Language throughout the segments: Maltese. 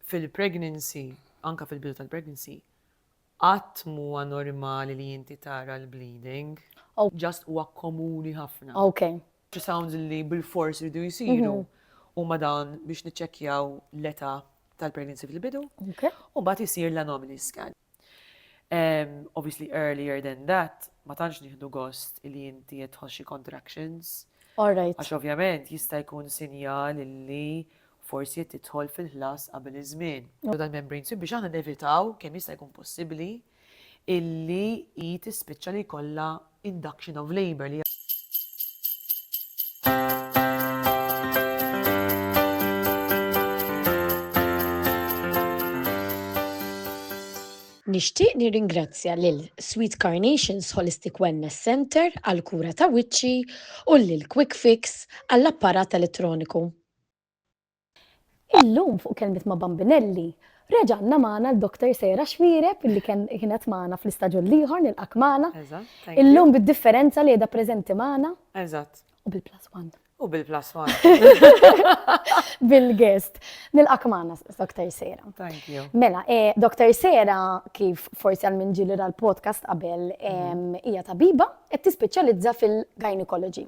Fil-pregnancy, anke fil-bidu tal-pregnancy, qatt mhuwa normali li inti tara l-bleeding. Just huwa komuni ħafna. Ultrasounds li bilfors iridu jsiru huma dawn biex niċċekkjaw l-età tal-pregnancy fil-bidu, u mbagħad isir l-anomaly scan. Obviously earlier than that, ma tantx nieħdu gost li inti qed tħoxxi contractions. Alright. Għax ovvjament jista' jkun sinjal li forsi qed tidħol fil-ħlas qabel iż-żmien. Dan membrane sweep biex aħna nevitaw kemm jista' jkun possibbli illi hi tispiċċa li jkollha induction of labour li Nixtieq nirringrazzja lil Sweet Carnations Holistic Wellness Centre għall-kura ta' wiċċi u lil Quick Fix għall-apparat elettroniku. Illum fuq Kelmiet ma' Bambinelli, reġa' għandna magħna l-Doktor Sejra Xwireb illi kienet magħna fl-istaġun l-ieħor nilqgħek magħna. Illum bid-differenza li qiegħda preżenti magħna. Eżatt. U bil-plus one. U bil-plus one. Bil-guest. Nilqgħek magħna Doktor Sejra. Thank you. Mela, Doktor Sejra kif forsi għal min ġieli ra l-podcast qabel hija tabiba qed tispeċjalizza fil-gynecology.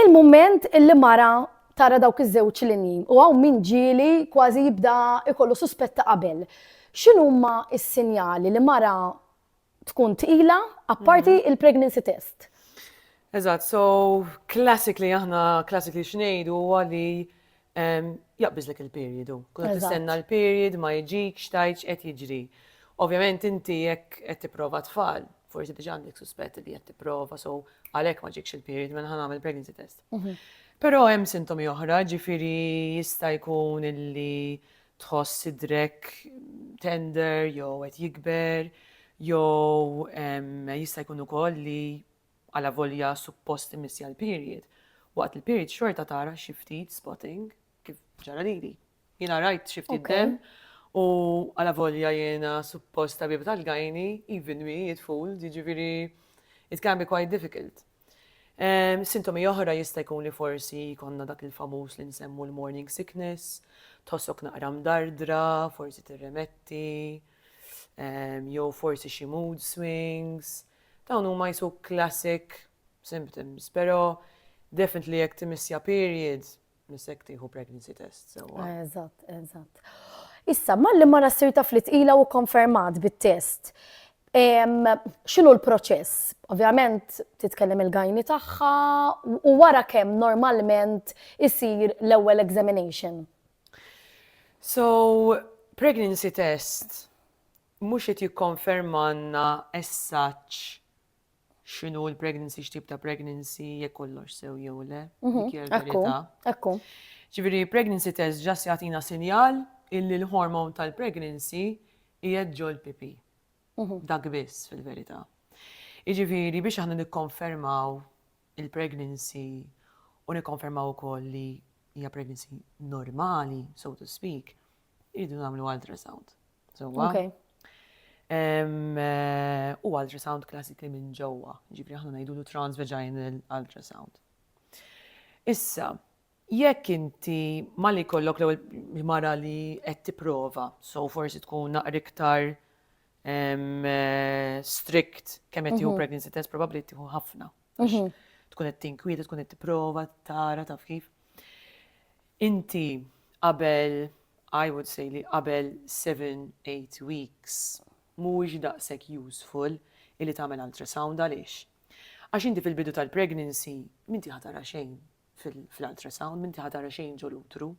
Il-mument li mara tara dawk iż-żewġ linji, u hawn min ġieli kważi jibda jkollu suspett ta' qabel, x'inhuma s-sinjali li mara tkun tqila, apparti l-pregnancy test? Eżatt, so classically aħna, classically x'ngħidu huwa li jaqbiżlek il-period hu. Kont qed tistenna l-period, ma jiġikx, tajt x'qed jiġri. Ovvjament inti jekk qed tipprova tfal, forsi diġà għandek suspett li qed tipprova, so għalhekk ma ġikx il-period mela ħa nagħmel pregnancy test. Mhm. Però hemm sintomi oħra, ġifieri jista' jkun illi tħoss idrek tender jew qed jikber, jew jista' jkun ukoll li Alavolja suppost immissja l-period, waqt li l-period xorta tara xi ftit spotting, kif ġara lili. Jiena rajt xi ftit demm u alavolja jiena suppost tabib tal-gynae, even me, it fooled, jiġifieri it can be quite difficult. Sintomi oħra jista' jkun li forsi jkollna dak il-famuż li nsemmu l-morning sickness, tħossok naqra mdardra, forsi tirremetti, jew forsi xi mood swings, Dawn huma qisu classic symptoms, pero definitely jekk timiss ja period, missek tieħu pregnancy test sewwa. Eżatt, eżatt. Issa, malli mara ssir taf li tqila u konfermat bit-test, xinu l-proċess? Ovvjament titkellem il-gajni tagħha u wara kemm normalment isir l-ewwel examination. So, pregnancy test Mhux qed jikkonfermalna as such x'inhu l-pregnancy, x'tip ta' pregnancy, jekk kollox sew jew le, dik hija l-verità. Ekku. Ġifieri pregnancy test just jagħtina sinjal illi l-hormone tal-pregnancy qiegħed ġol-pipi. Dak biss fil-verità. Jiġifieri biex aħna nikkonfermaw il-pregnancy u nikkonfermaw ukoll li hija pregnancy normali, so to speak, Idu namlu ultrasound. Sewwa. Okay. Eh, u ultrasound klassikli minn ġewwa, ġifri aħna ngħidulu transvaginal ultrasound. Issa, jekk inti ma li kollok l mara li qed tipprova, so forsi tkun naqra iktar eh, strict kemm qed tieħu mhm. pregnancy test probabbli tieħu ħafna. Għax mhm. tkun qed tinkwiet, tkun qed tipprova tara taf kif. Inti qabel I would say li qabel 7-8 weeks mhuwiex daqshekk useful illi tagħmel ultrasound għaliex. Għax inti fil-bidu tal-pregnancy minti ħatara xejn fil-ultrasound, minti ħatara xejn ġol utru.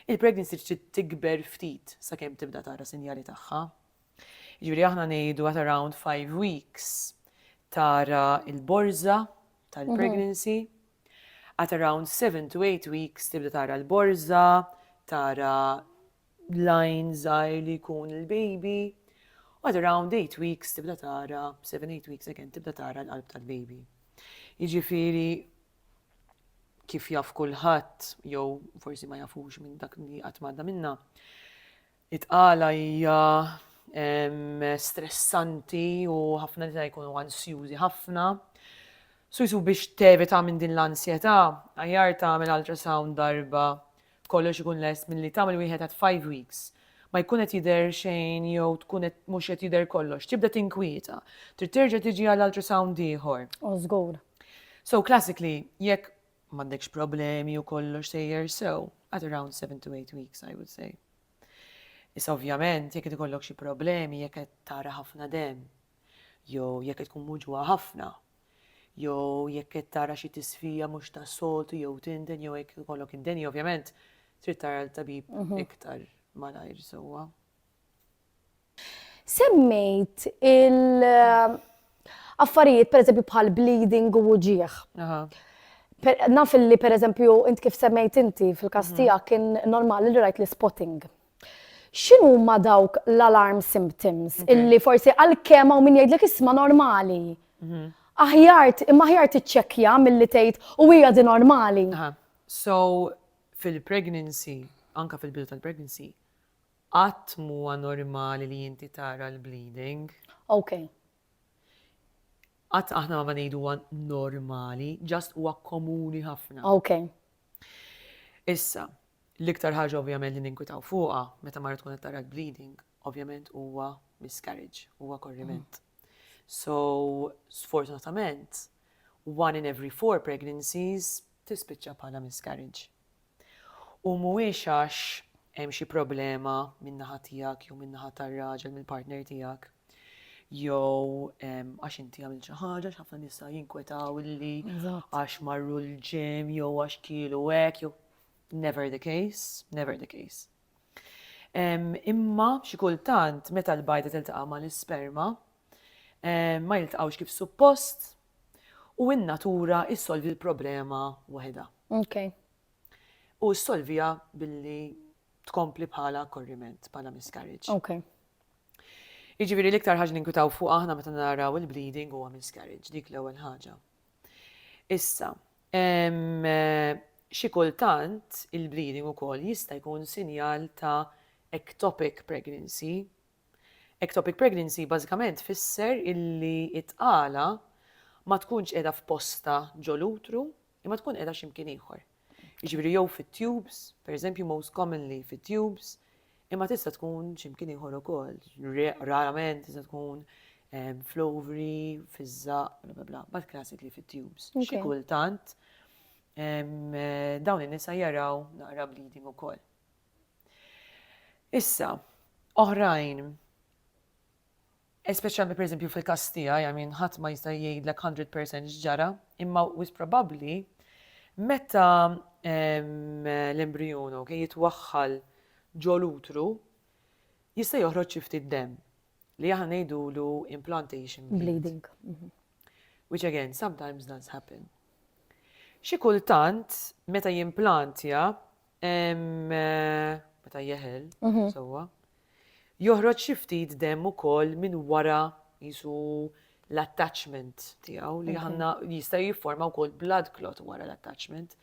Il-pregnancy trid tikber ftit sakemm tibda tara sinjali tagħha, Jiġifieri aħna ngħidu at around five weeks tara l-borża tal-pregnancy, at around seven to eight weeks tibda tara l-borża, tara lajn żgħir li jkun il-baby, u at around eight weeks tibda tara, seven, eight weeks again, tibda tara l-qalb tal-baby. Jiġifieri kif jaf kulħadd, jew forsi ma jafux minn dak li qatt m'għadda minnha, It-tqala hija stressanti u ħafna nisa jkunu ansjużi ħafna. So jsu biex tevita minn din l-ansjetà, aħjar tagħmel ultrasound darba kollox ikun lest milli tagħmel wieħed at five weeks ma jkun qed jidher xejn jew tkun qed mhux qed jidher kollox, tibda tinkwieta. Trid terġa' tiġi għal ultrasound ieħor. Oh, żgur. So classically, jekk M'għandekx problemi u kollox sejjer sew, at around seven to eight weeks I would say. Issa ovvjament jekk qed ikollok xi problemi jekk qed tara ħafna demm, jew jekk qed tkun muġugħa ħafna, jew jekk qed tara xi tisfija mhux tas-soltu jew tinden jew jekk ikollok indeni ovvjament trid tara l-tabib iktar malajr sewwa. Semmejt il- affarijiet per eżempju bħal bleeding u uġieħ. Naf li per eżempju int kif semmejt inti fil-kastija mhm. kien normali li rajt li spotting. Xinu ma dawk l-alarm symptoms illi forsi għal-kem għaw min jgħidlek isma normali. Mhm. Aħjart, imma aħjart iċċekja mill-li tgħid u hija di normali. So, fil-pregnancy, anka fil-bidu tal-pregnancy, Qatt mhuwa normali li inti tara l-bleeding. Ok. Qatt aħna ma ngħidu huwa normali, just huwa komuni ħafna. Ok. Issa, l-iktar ħaġa ovvjament li ninkwitaw fuqha meta mara tkun qed tara l-bleeding, ovvjament huwa miscarriage, huwa korriment. So, sfortunatament, one in every four pregnancies tispiċċa bħala miscarriage. U mhuwiex għax hemm xi problema min-naħa tiegħek jew min-naħa tar-raġel mill-partner tiegħek jew għax inti għamilt xi ħaġa x'ħafna nisa jinkwetaw illi għax marru l-gym jew għax kielu hekk jew never the case, never the case. Imma xi kultant meta l-bajda tiltaqa' mal-isperma ma jiltaqgħux kif suppost U n-natura ssolvi l-problema waħedha. Ok. U ssolviha billi tkompli bħala korriment, bħala miscarriage. Ok. Jiġifieri l-iktar ħaġa ninkwitaw fuq aħna meta naraw il-bleeding huwa miscarriage, dik l-ewwel ħaġa. Issa, xi kultant il-bleeding ukoll jista' jkun sinjal ta' ectopic pregnancy, Ectopic pregnancy bażikament tfisser illi t-tqala ma tkunx qiegħda f'postha ġo l-utru imma tkun qiegħda xi mkien ieħor. Jiġifieri jew fit-tubes, pereżempju most commonly fit-tubes, imma tista' tkun xi mkien ieħor ukoll, rarament tista' tkun fl-ovary, fiż-żaqq, bla bla bla, but classically fit-tubes. Xi kultant dawn in-nisa jaraw naqra bleeding ukoll. Issa, oħrajn, Espeċjalment pereżempju fil-każ tiegħi, I mean, ħadd ma jista' jgħidlek 100% x'ġara, imma wis probabbli meta l-embrijun okay, jitwaħħal ġol utru jista' joħroġ xi ftit demm li aħna ngħidulu implantation bleeding. Mhm. Which again, sometimes does happen. Xi kultant meta jimplantja Meta jeħel, mhm. sewwa. Joħroġ xi ftit demm ukoll minn wara jisu l-attachment tiegħu li ħanna jista' jifforma wkoll blood clot wara l-attachment.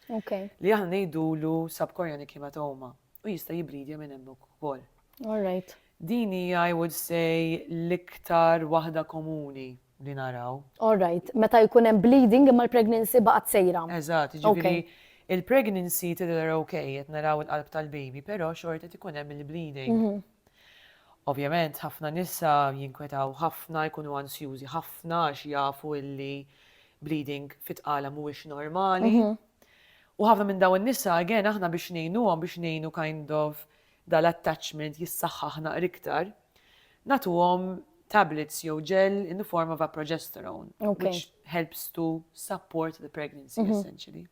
Li aħna ngħidulu subchorionic hematoma u jista' jibridja minn hemm ukoll. All right. Dini I would say l-iktar waħda komuni. li naraw. All right, meta jkun hemm bleeding imma l-pregnancy baqgħet sejra. Eżatt, jiġifieri il-pregnancy tidher ok, qed naraw il-qalb tal-baby, però xorta qed ikun hemm il-bleeding. Ovvjament ħafna nisa jinkwetaw ħafna, jkunu ansjużi ħafna għax jafu illi bleeding fit-tqala mhuwiex normali. U ħafna minn dawn in-nisa, again, aħna biex ngħinuhom, biex ngħinu kind of dal-attachment jissaħħaħ naqra iktar, nagħtuhom tablets jew gel in the form of a progesterone, which helps to support the pregnancy essentially.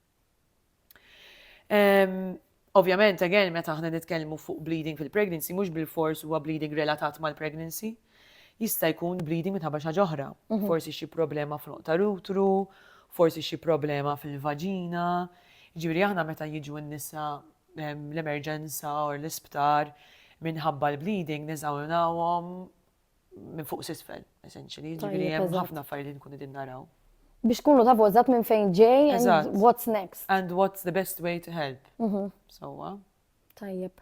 Ovvjament, again, meta aħna nitkellmu fuq bleeding fil-pregnancy, mhux bil-fors huwa bleeding relatat mal-pregnancy, jista' jkun bleeding minħabba xi ġoħra. Mhm. Forsi xi problema fl ta' rutru, forsi xi problema fil-vaġina. Ġifieri aħna meta jiġu n-nisa l-emerġenza u l-isptar minħabba l-bleeding neżaminawhom minn fuq sisfel, essentially. Ġifieri hemm ħafna affarijiet li nkunu din naraw. Biex kunu tafu eżatt minn fejn ġej and what's next. And what's the best way to help. Mhm. Sowa. Tajjeb.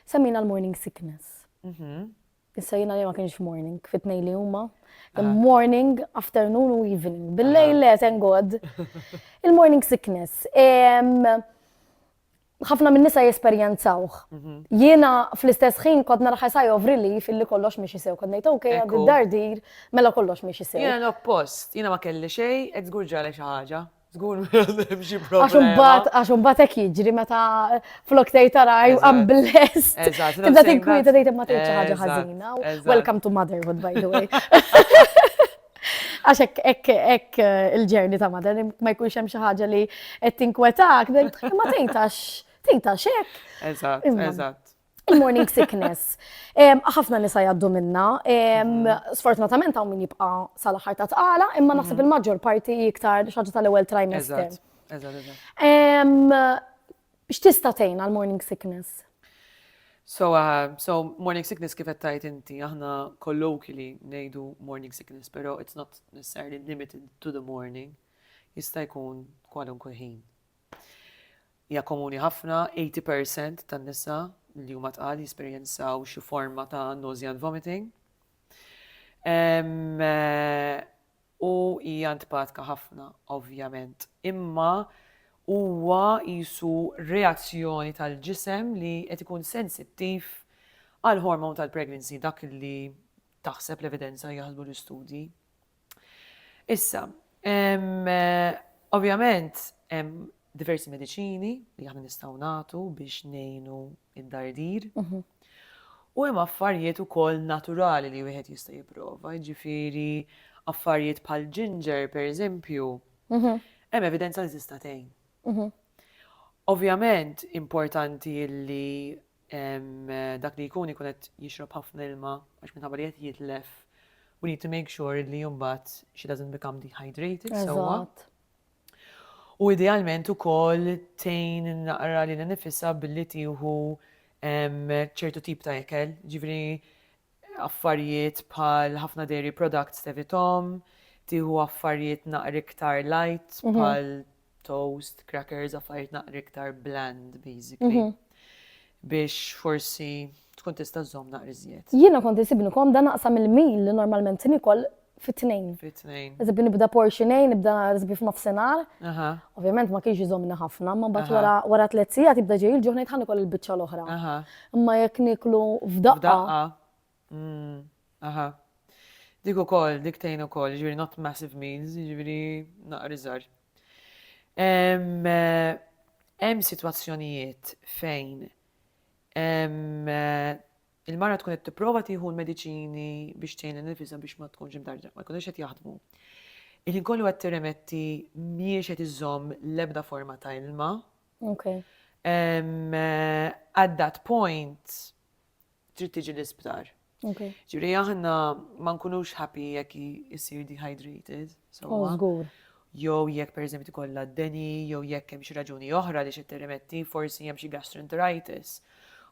Semmina l-morning sickness. Mhm. Issa jina li ma kienx morning, fitnej li huma. Ah. Morning, afternoon u evening. Billej le, thank God. Il-morning sickness. ħafna min-nisa jesperjenzawh. Mhm. Jiena fl-istess ħin kont nara ħajsaj of relief illi kollox miex isew. Kont ngħid ok, għad dardir mela kollox miex isew. Jiena l-oppost, jiena ma kelli xejn, qed żgur ġale xi ħaġa. Żgur xi problema. Għax imbagħad għax imbagħad hekk jiġri meta flok tgħid tara I'm blessed. Eżatt. Tibda tinkwieta tgħid imma tgħid xi ħaġa ħażina. Welcome to motherhood by the way. Għax ek, ek, ek eh, il-ġerni ta' madan, ma jkunx hemm xi ħaġa li qed tinkwetak, ma tgħidx tgħidx hekk. Eżatt, eżatt. Il-morning sickness. Ħafna nisa jaddu minna. Mhm. Sfortunatament hawn min jibqa' sal-aħħar ta' tqala, imma mhm. naħseb il-maġġor parti iktar xaġa tal-ewwel trimester. X'tista' tgħin għal morning sickness? So, so morning sickness kif qed tgħid inti, aħna colloquially ngħidu morning sickness, però it's not necessarily limited to the morning. Jista' jkun kwalunkwe ħin. Ja komuni ħafna, 80% tan-nisa li huma tqal jesperjenzaw xi forma ta' nausea and vomiting. Eh, U hija ntpatka ħafna, ovvjament. Imma huwa qisu reazzjoni tal-ġisem li qed ikun sensittiv għall-hormone tal-pregnancy, dak li taħseb l-evidenza, jaħsbu l-istudji. Issa, ovvjament hemm diversi mediċini li aħna nistgħu nagħtu biex ngħinu id-dardir. U hemm affarjiet ukoll naturali li wieħed jista' jipprova, jiġifieri affarjiet bħal ginger pereżempju, hemm evidenza li tista' tgħin. Ovvjament importanti li dak li jkun ikun qed jixrob ħafna ilma għax minħabba li qed jitlef, we need to make sure li mbagħad she doesn't become dehydrated sewwa. U idealment ukoll tgħin naqra lilha nifisha billi tieħu ċertu tip ta' ikel, ġifieri affarijiet bħal ħafna dairy products tevithom, tieħu affarijiet naqra iktar light mhm. bħal toast, crackers, affarijiet naqra iktar bland basically. Mhm. Biex forsi tkun tista' żomm naqra iżjed. Jiena kont isibni kom dan naqsam il-mil li normalment nikol fit-tnejn. Fit-tnejn. Eżib nibda portion A, nibda eżib f'nofsinhar. Ovvjament ma kienx iżomni ħafna, ma mbagħad wara wara tliet sigħat jibda ġej il-ġuħ ngħid ħanikol il-biċċa l-oħra. Imma jekk niklu f'daqqa. Mm, aha. Dik ukoll, dik tgħin ukoll, ġifieri not massive meals, ġifieri naqriżar. Eh, hemm sitwazzjonijiet fejn eh, Il-mara tkun qed tipprova tieħu l-mediċini biex tgħin lil nifisha biex ma tkunx imdarġa, ma jkunux qed jaħdmu. Il-ħin kollu qed tirremetti mhijiex qed iżomm l-ebda forma ta' ilma. Okay. Um, at that point, trid tiġi l-isptar. Okay. Ġiri aħna ma nkunux happy jekk jisir dehydrated. So, oh, jew jekk pereżempju tkollha d-deni jew jekk hemm xi raġuni oħra għaliex qed tirrimetti, forsi hemm xi gastroenteritis,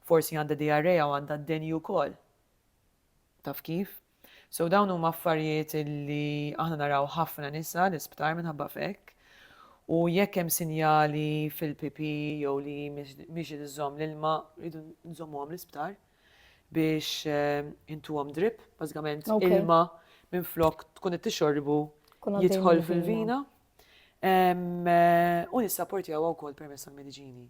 forsi għandha diarrea u għandha d-deni wkoll. Taf kif? So dawn huma affarijiet li aħna naraw ħafna nisa l-isptar minħabba fekk u jekk hemm sinjali fil-pipi jew li mhix iżżomm l-ilma rridu nżommuhom l-isptar. biex intuhom drip, bażikament ilma minn flok tkun qed tixorbu jidħol fil-vina. U nissaportjaw wkoll permezz tal-mediċini.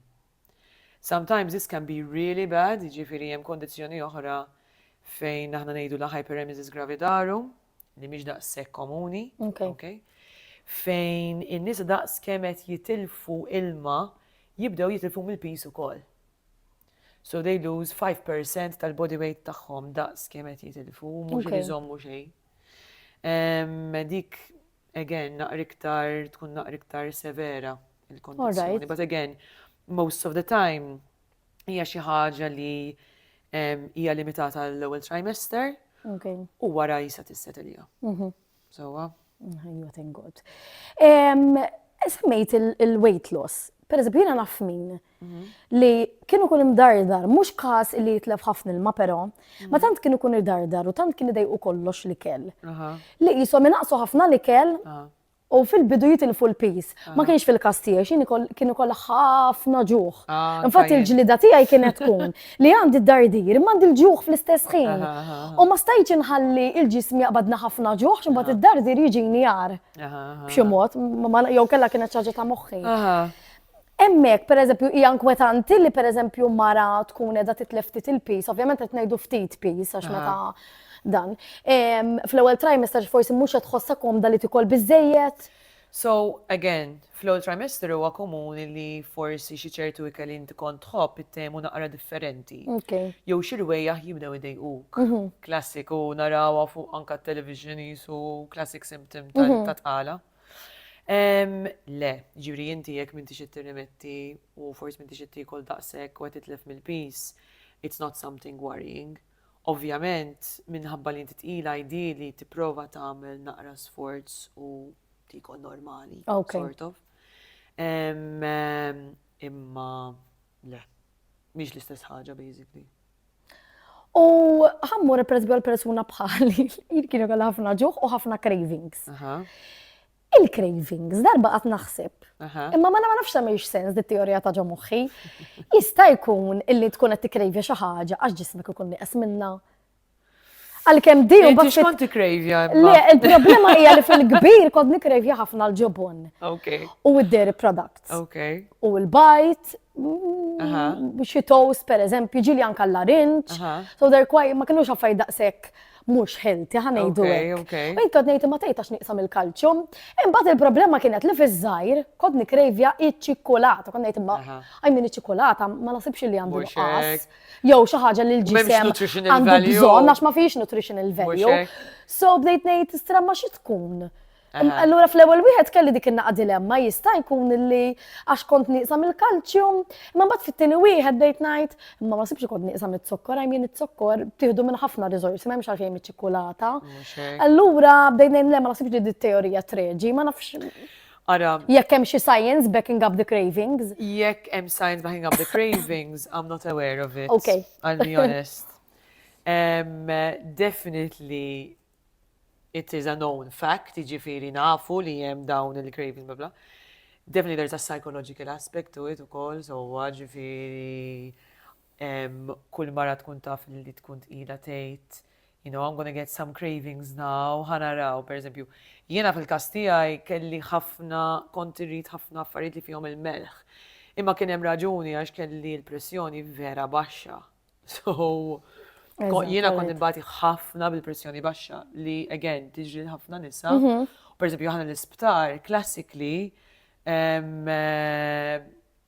Sometimes this can be really bad, jiġifieri hemm kondizzjoni oħra fejn aħna ngħidu la hyperemesis gravidarum, li mhix daqshekk komuni. Okay. Fejn in-nies daqs kemm qed jitilfu ilma jibdew jitilfu mill-pis ukoll. So they lose 5% tal-body weight tagħhom daqs kemm qed jitilfu, mhux Okay. iżommu xejn. Em, Dik again naqra iktar tkun naqra iktar severa il-kondizzjoni. Alright. But again, most of the time hija xi ħaġa li em, hija limitata l-ewwel trimester Okay. u wara jisa tisset ilija. Mhm. Sewwa. Ħajja thank God. Semmejt il-weight loss. Per eżempju, jiena naf min mhm. li kienu kun imdardar, mhux każ li jitlef ħafna ilma però, ma mhm. tant kienu kun irdardar u tant kien idejqu kollox li kell. Li jisom inaqsu ħafna li kell u fil-bidu jitilfu l-pis. Ma kienx fil-kas tiegħi, xini kien ikoll ħafna ġuħ. Ah, Infatti il-ġlida tiegħi kienet tkun li għandi d-dardir, ma għandi l-ġuħ fl-istess ħin. U ma stajċ inħalli il-ġism jaqbadna ħafna ġuħ, ximbat id-dardir jiġini jar. B'xi mod, jew kella kienet ċaġa ta' moħħi. Emmek, per eżempju, hija inkwetanti li per eżempju mara tkun edha titlef ftit il-pis, ovvjament qed ngħidu ftit pis għax meta dan. Fl-ewwel trimester forsi mhux qed tħossha komda li tikol biżejjed. So, again, fl-ewwel trimester huwa komuni li forsi xi ċertu ikel li inti kont tħobb ittehmu naqra differenti. Jew xi rwejjaħ jibdew idejquk. Klassiku narawha fuq anke t-television qisu classic symptom ta' tqala. Le, jiġifieri inti jekk m'intix qed tirrimetti u forsi m'intix qed tiekol daqshekk u qed titlef mill-piż, it's not something worrying. Ovvjament, minħabba li inti tqila ideally tipprova tagħmel naqra sforz u tiekol normali, sort of. Imma le, mhix l-istess ħaġa basically. U ħammur peress għal persuna bħali, jien kienu għal ħafna ġuħ u ħafna cravings. Il-cravings, darba qatt naħseb. Imma ma nafx tagħmilx sens dit teorija ta' ġo moħħi. Jista' jkun illi tkun qed tikkrejvja xi ħaġa għax ġismek ikun nieqes minna. Għalkemm din u bħax kont tikkrejvja. Le, il-problema hija li fil-kbir kont nikkrejvja ħafna l-ġobon. Okay. U id-dairy products. Okay. U l-bajt, xi toast per eżempju, ġili anka l-larinċ. So they're quite, ma kienux affarijiet daqshekk mhux healthy ħa ngħidu hekk. Min kont ngħid ma tgħidx niqsam il-kalċjum. Imbagħad il-problema kienet li fiż-żgħir kont nikrejvja iċ-ċikkulata, kont ngħid imma għajmin iċ-ċikkulata ma nasibx li għandu qas. Jew xi ħaġa li l-ġisem għandu bżonn għax ma fiex nutritional value. So bdejt ngħid stremma xi tkun. Allura fl-ewwel wieħed kelli dik in-naqa' dilemma jista' jkun li għax kont nieqsa mill-kalċjum, imma mbagħad fit-tieni wieħed bdejt ngħid, imma ma sibx kont nieqsa miz-zokkor, għajm jien iż-zokkor tieħdu minn ħafna riżorsi ma hemmx għalfejn miċ-ċikkulata. Allura bdejt ngħid le ma nasibx li dit-teorija treġi, ma nafx. Ara. Jekk hemm xi science backing up the cravings. Jekk hemm science backing up the cravings, I'm not aware of it. Okay. I'll be honest. Um, definitely it is a known fact, jiġifieri nafu li hemm dawn il-cravings bla bla. Definitely there is a psychological aspect to it ukoll, so ġifieri kull mara tkun taf li tkun tqila tgħid, you know, I'm gonna get some cravings now, ħanaraw, per eżempju, jiena fil-każ tiegħi kelli ħafna kont irrid ħafna affarijiet li fihom il-melħ. Imma kien hemm raġuni għax kelli l-pressjoni vera baxxa, So, jiena kont imbati ħafna bil-pressjoni baxxa li, again, tiġri ħafna nisa. Mhm. Per esempio, ħana l-isptar, klassikli, eh,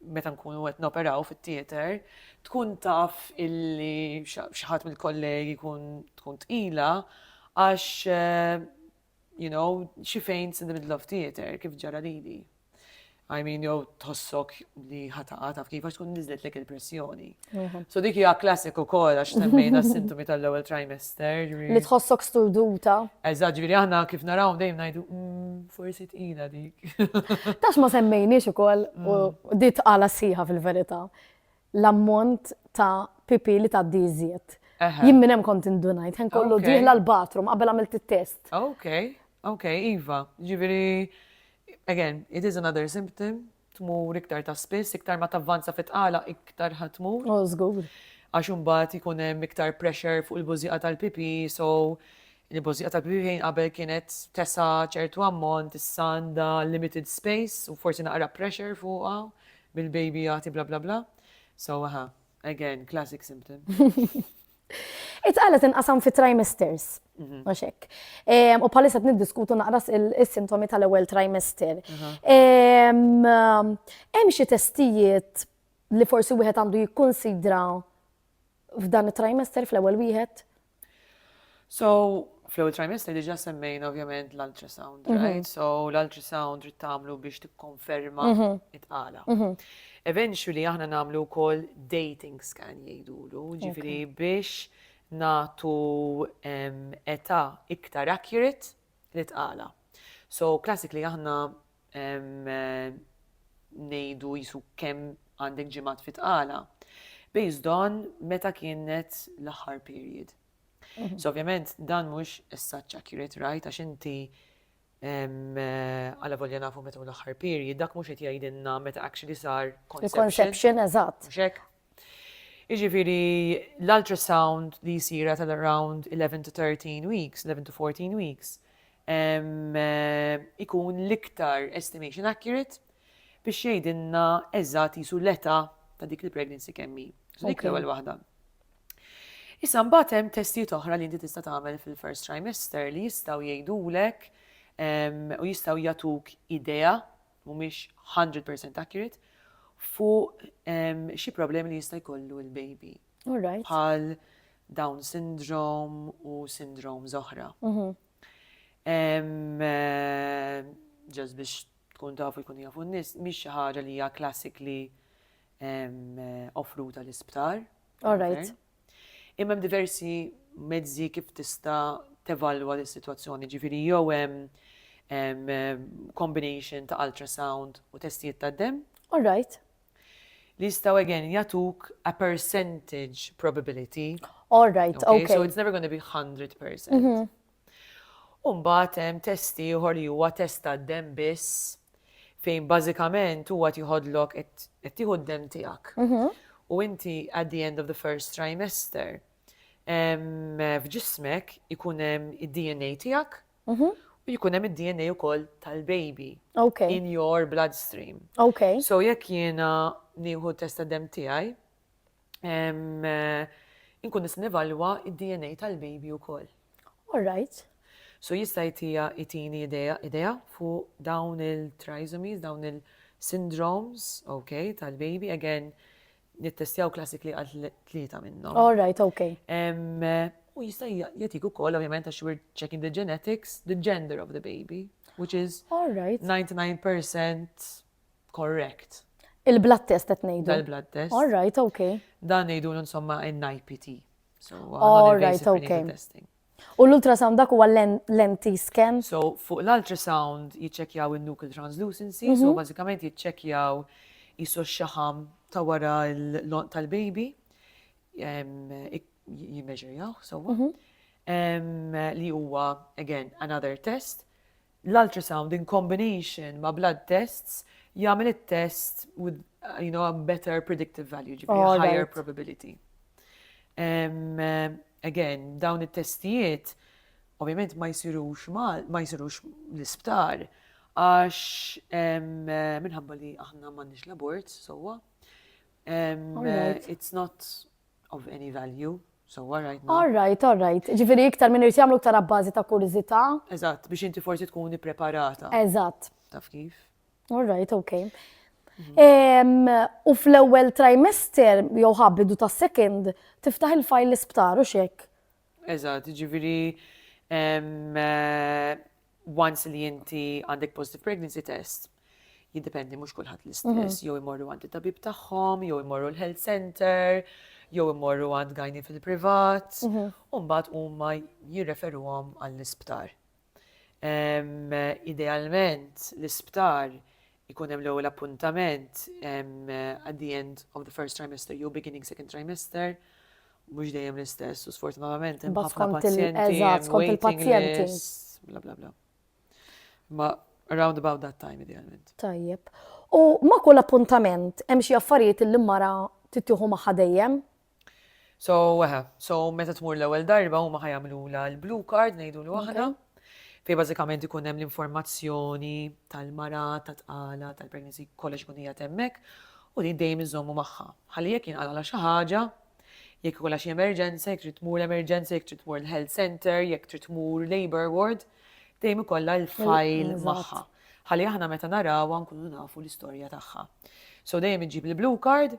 meta nkunu għet noperaw fit-theater, tkun taf illi xaħat mill-kollegi kun tkun tqila, għax eh, you know, xi fejn in the middle of theater, kif ġara lili. I mean, jow tħossok li ħataqa taf kif għax tkun nizlet lek il-pressjoni. Mhm. So dik hija klassiku kol għax semmejna s-sintomi tal-ewwel trimester. Li tħossok sturduta. Eżaġ, ġifieri aħna kif naraw dejjem ngħidu mm, forsi tqila dik. Tax ma semmejniex ukoll u mm. dit għala siħa fil-verità. l-ammont ta' pipì li tgħaddi iżjed. Eħe. Jien minn hemm kont indunajt, ħen kollu Ok. dieħla l-bathroom qabel għamilt it-test. Ok, ok, iva. Ġifieri, again, it is another symptom, tmur iktar ta' spiss, iktar ma tavvanza fit-tqala, iktar ħa tmur. Oh, żgur. Għax imbagħad ikun hemm iktar pressure fuq il-bużieqa tal-pipì, so il-bużieqa tal-pipì fejn qabel kienet tesa' ċertu ammont, issa għandha limited space u forsi naqra pressure fuqha Bil-baby jagħti bla bla bla. So aha, again, classic symptom. Itqala tinqasam fi trimesters. Mhm. Għax hekk. U bħalissa niddiskutu naqras is-sintomi tal-ewwel trimester. Hemm xi testijiet li forsi wieħed għandu jikkunsidra F'dan it-trimester, fl-ewwel wieħed? So, fl-ewwel trimester diġà semmejna ovvjament l-ultrasound, mhm. right? So, l-ultrasound trid tagħmlu biex tikkonferma mhm. it-qala. Mhm. Eventually aħna nagħmlu wkoll dating scan jgħidulu, ġifieri biex nagħtu età iktar accurate li tqala. So, classically aħna ngħidu qisu kemm għandek ġimgħat fi tqala, based on meta kienet l-aħħar period. Mhm. So ovvjament dan mhux such accurate right għax inti għala volja nafu meta l-aħħar period, dak mhux qed jgħidilna meta actually sar conception. Conception eżatt. Jiġifieri l-ultrasound li jsir at around 11 to 13 weeks, 11 to 14 weeks, ikun l-iktar estimation accurate biex jgħidilna eżatt jisu l-età ta' dik il-pregnancy kemm hi. Dik l-ewwel waħda. Issa mbagħad hemm testijiet oħra li inti tista' tagħmel fil-first trimester li jistgħu jgħidulek u jistgħu jagħtuk idea mhumiex hundred percent accurate, fuq xi problemi li jista' jkollu l-baby. Bħal Down syndrome u syndrome zoħra. Mhm. Ġas biex tkun tafu jkun jafu n-nis, miex xi ħaġa li hija classically offruta l-isptar. All right. Imma hemm diversi mezzi kif tista' tevalwa dis-sitwazzjoni, ġifieri jew hemm combination ta' ultrasound u testijiet tad-demm. All right. Li jistgħu again jagħtuk a percentage probability. All right, okay. So it's never going to be 100%. U mbagħad hemm test ieħor li huwa test tad-demm biss fejn bażikament huwa qed jħodlok qed tieħu d-demm tiegħek. U inti at the end of the first trimester f'ġismek ikun hemm id-DNA tiegħek mhm. u jkun hemm id-DNA wkoll tal-baby okay. in your bloodstream. Okay. So jekk jiena nieħu testa dem tiegħi, Inkun nista' nivalwa d-DNA tal-baby wkoll. All right. So jista' jtija jtini idea idea fuq dawn il-trisomies, dawn il-syndromes, ok, tal-baby, again, nittestjaw classically għal tlieta minnhom. All right, ok. U jista' jatik ukoll, ovvjament, għax we're checking the genetics, the gender of the baby, which is 99% Correct. Il-blood test qed ngħidu. Dal-blood test. All right, okay. Dan ngħidulu insomma NIPT. So, All right, okay. Testing. U l-ultrasound dak huwa l-empty scan? So, fuq l-ultrasound jiċċekjaw il-nuclear translucency, so mhm. bażikament jiċċekjaw jisu xaħam ta' wara l-lont tal-baby, jimmeġerjaw, so, mhm. li huwa, again, another test, L-ultrasound in combination ma' blood tests jagħmel it-test with you know, a better predictive value, ġifieri oh, higher right. probability. Um, again, dawn it-testijiet ovvjament ma jsirux ma jsirux l-isptar għax minħabba li aħna m'għandniex l-abort sewwa. It's not of any value, so all right now. All right, all right. Ġifiri iktar minn irti għamlu iktar għabbażi ta' kurizita. Eżatt, biex inti forsi tkun preparata. Eżatt. Taf kif? All right, okay. Mhm. U fl-ewwel trimester jew ħabbidu ta' second tiftaħ il-fajl l-isptar u xek. Eżatt, ġifiri eh, once li inti għandek positive pregnancy test, jiddependi mhux kulħadd l-istess, mhm. jew imorru għand it-tabib tagħhom, jew imorru l-health center, jew imorru għand gajni fil-privat, mhm. u mbagħad huma jirreferuhom għall-isptar. Idealment l-isptar Ikun hemm l-ewwel appuntament at the end of the first trimester jew beginning second trimester, mhux dejjem l-istess, u sfortunatament hemm ħafna pazjenti. Skont il-pazjenti. Bla bla bla. Ma around about that time idealment. Tajjeb. U ma kull appuntament hemm xi affarijiet li l-mara tittieħu magħha dejjem? So, eħe, so meta tmur l-ewwel darba huma ħajamlula l-blue card ngħidulu aħna. Fej bażikament ikun hemm l-informazzjoni tal-mara, tat-tqala, tal-pregnancy, kollox ikun hija temmek u din dejjem iżommu magħha. Ħalli jekk jinqala xi ħaġa, jekk ikolla xi emerġenza, jekk trid tmur emerġenza, jekk trid tmur l-health center, jekk trid tmur labor ward, dejjem ikolla l-fajl magħha. Ħalli aħna meta narawha nkunu nafu l-istorja tagħha. So dejjem iġib il-blue card,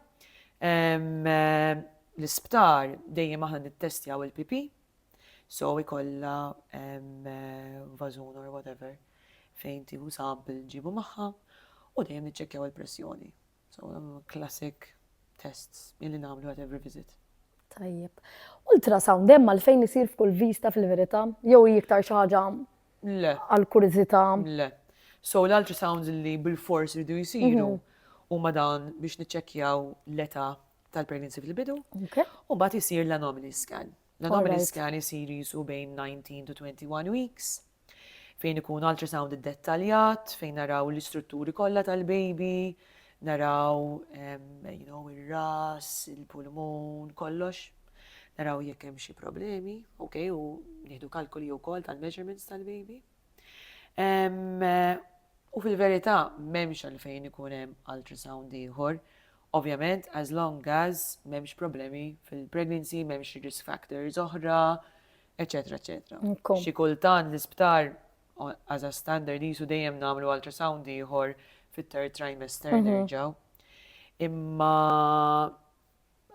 L-isptar dejjem aħna nittestjaw il-PP, so ikolla vażun or whatever fejn tieħu sample ġibu magħha u dejjem niċċekkjaw il-pressjoni. So classic tests illi nagħmlu at every visit. Tajjeb. Ultrasound hemm għalfejn isir f'kull vista fil-verità jew iktar xi ħaġa Le. Għal kurżità. Le. So l-ultrasounds li bilfors iridu jsiru huma dawn biex niċċekkjaw l-età tal-pregnancy fil-bidu. U mbagħad isir l-anomaly scan. L-anomaly scan isir jisu bejn 19 to 21 weeks fejn ikun ultrasound id-dettaljat, fejn naraw l-istrutturi kollha tal-baby, naraw, you know, il-ras, il-pulmun, kollox. Naraw jekk hemm xi problemi, ok, u nieħdu kalkoli wkoll tal-measurements tal-baby. U fil-verità m'hemmx għalfejn ikun hemm ultrasound ieħor. Ovvjament, as long as m'hemmx problemi fil-pregnancy, m'hemmx risk factors oħra, eċetera, eċetera. Xi kultant l-isptar as a standard jisu dejjem nagħmlu ultrasound ieħor fit-third trimester mhm. nerġgħu. Imma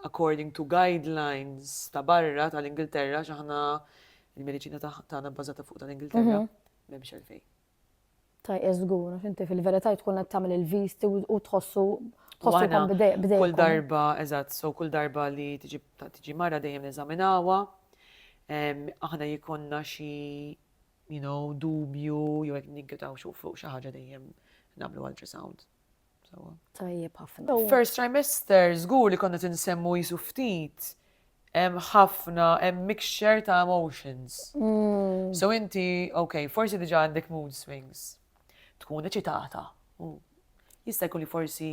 according to guidelines ta' barra tal-Ingilterra għax aħna il-mediċina tagħna bbażata fuq tal-Ingilterra m'hemmx għalfejn. Taj żgur, għax inti fil-verità tkun qed tagħmel il-visti u tħossu tħossukom bdejk. Kull darba, eżatt, so kull darba li tiġi mara dejjem neżaminawha, aħna jikonna xi you know, dubju, jew jekk ninkitaw fuq xi ħaġa dejjem nagħmlu ultrasound. Tajjeb ħafna. First trimester, żgur li konna tinsemmu jisu ftit hemm ħafna, hemm mixture ta' emotions. Mm. So inti, ok, forsi diġa għandek mood swings. Tkun eċitata. Mm. Jista' jkun li forsi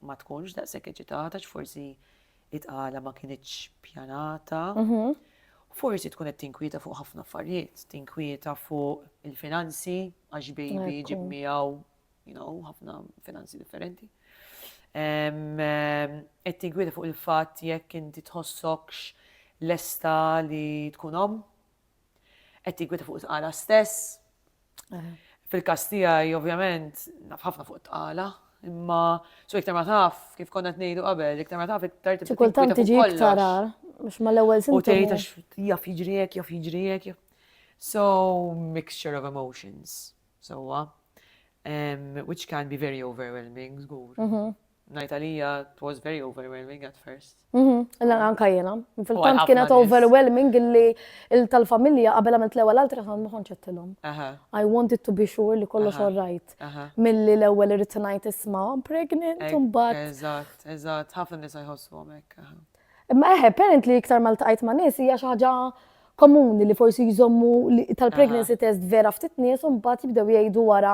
ma tkunx daqshekk eċitata, forsi it-għala ma kienieċ pjanata. Mhm. Forsi tkun qed tinkwieta fuq ħafna affarijiet, tinkwieta fuq il-finanzi, għax baby ġib miegħu you know, ħafna finanzi differenti. Qed tingwida fuq il-fatt jekk inti tħossokx lesta li tkun om. Qed tingwida fuq it-tqala stess. Fil-każ tiegħi ovvjament naf ħafna fuq it-tqala, imma so iktar ma taf kif konna qed ngħidu qabel, iktar ma taf iktar tibda. Kultant tiġi iktar mhux mal-ewwel sintomi. U tgħid għax jaf jiġri hekk, jaf jiġri hekk. So mixture of emotions. Sewwa. Which can be very overwhelming, żgur. Mhm. Ngħid għalija it was very overwhelming at first. Mhm. Illa anka jiena. Fil-tant kienet overwhelming illi tal-familja qabel għamilt l-ewwel altra ma kontx qedtilhom. I wanted to be sure li kollox all right. Milli l-ewwel irid ngħid isma' pregnant imbagħad. Eżatt, eżatt, ħafna nisa jħossu hekk. Imma eħe, apparently iktar ma ltqajt ma' nies hija xi ħaġa komuni li forsi jżommu tal-pregnancy test vera ftit nies u mbagħad jibdew jgħidu wara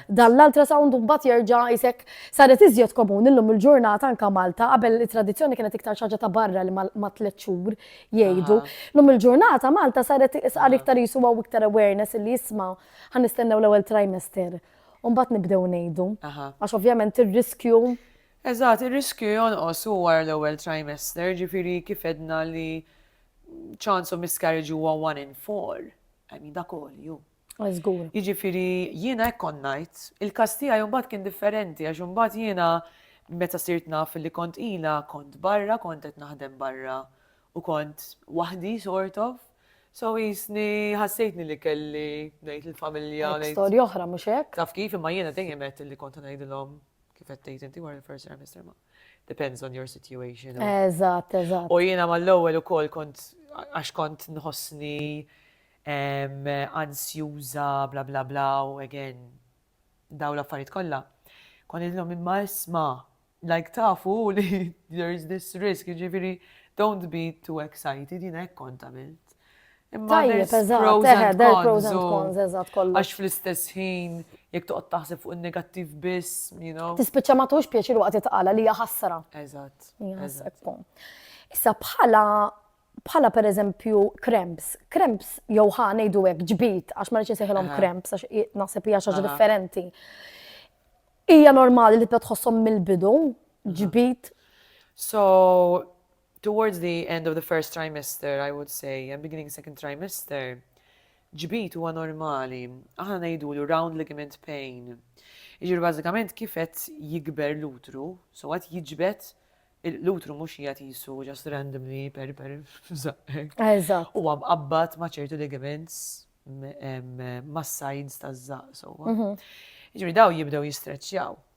dan l-ultrasound u mbagħad jerġa' isek saret iżjed komuni llum il-ġurnata anke Malta qabel it-tradizzjoni kienet iktar xaġa ta' barra li ma' tliet xhur jgħidu. Llum il-ġurnata Malta saret isqar iktar jisu għaw iktar awareness li jisma' ħa nistennew l-ewwel trimester u mbagħad nibdew ngħidu. Għax ovvjament ir-riskju Eżatt, ir-riskju jonqos u wara l-ewwel trimester, ġifieri kif għedna li chance of miscarriage huwa one in four, I mean dak għoli hu. Ah, żgur. Jiġifieri jiena hekk kont ngħid, il-każ tiegħi mbagħad kien differenti għax imbagħad jiena meta sirt naf li kont qila kont barra, kont qed naħdem barra u kont waħdi sort of. So jisni ħassejtni li kelli ngħid il-familja. Storja oħra mhux hekk? Taf kif imma jiena dejjem qed li kont ngħidilhom Kif qed tgħid inti wara l-first trimester ma depends on your situation. Eżatt, eżatt. U jiena mal-ewwel ukoll kont għax kont nħossni ansjuża bla bla bla u again daw l-affarijiet kollha. Kon idlhom imma isma' like tafu li there is this risk, ġifieri don't be too excited, jiena hekk kont għamilt. Tajjeb, eżatt, eħe, del pros and cons, eżatt kollu. Għax fl-istess ħin, jek toqgħod taħseb fuq il-negattiv biss, you know. Tispiċċa ma tux pjaċir waqt itqala li hija ħasra. Eżatt. Issa bħala bħala per eżempju kremps, kremps jew ħa ngħidu hekk ġbit għax ma rridx insejħilhom kremps għax naħseb hija xaġa differenti. Hija normali li tbed tħossom mill-bidu ġbit. So Towards the end of the first trimester, I would say, and beginning second trimester, ġbid huwa normali, aħna ngħidulu round ligament pain. Jiġifieri bażikament kif qed jikber l-utru, so qed jiġbed l-utru mhux qiegħed qisu just randomly per per f'żaqqek. Eżatt. Huwa mqabbad ma' ċertu ligaments mas-sides taż-żaqq sewwa. Jiġifieri daw jibdew jistreċċjaw.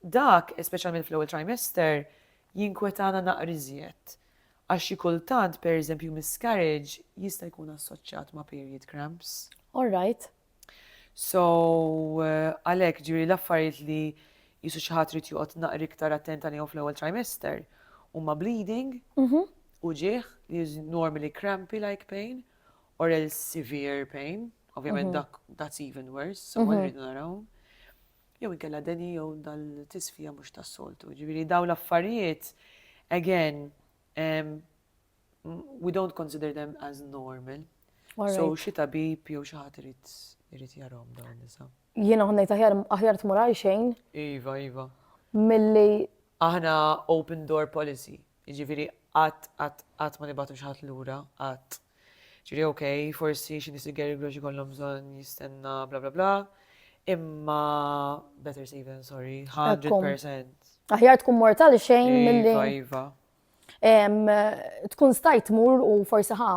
Dak, speċjalment fl-ewwel trimester, jinkwetana naqra iżjed, għax xi kultant, pereżempju, miscarriage jista' jkun assoċjat ma' period cramps. All right. So, għalhekk, jiġifieri l-affarijiet li jqisu xi ħadd irid joqgħod naqra iktar attent għalihom fl-ewwel trimester huma bleeding, uġigħ, li is normally crampy like pain, or else severe pain, ovvjament dak that's even worse, so ma rridu naraw. jew inkella deni jew dal-tisfija mhux tas-soltu. Ġifieri daw l-affarijiet, again, um, we don't consider them as normal. Right. So xi tabib jew xi ħadd irid irid jarhom dawn nisa. Jiena ħonnejt aħjar aħjar tmur għal xejn. Iva, iva. Milli aħna open door policy. Jiġifieri qatt qatt qatt ma nibatu xi ħadd lura, qatt. Ġifieri ok, forsi xi nies il-Gary Grosh ikollhom bżonn jistenna bla bla bla, imma better safe than sorry, 100%. Aħjar tkun mortal xejn milli. Iva, iva. Tkun stajt mur u forsi ħa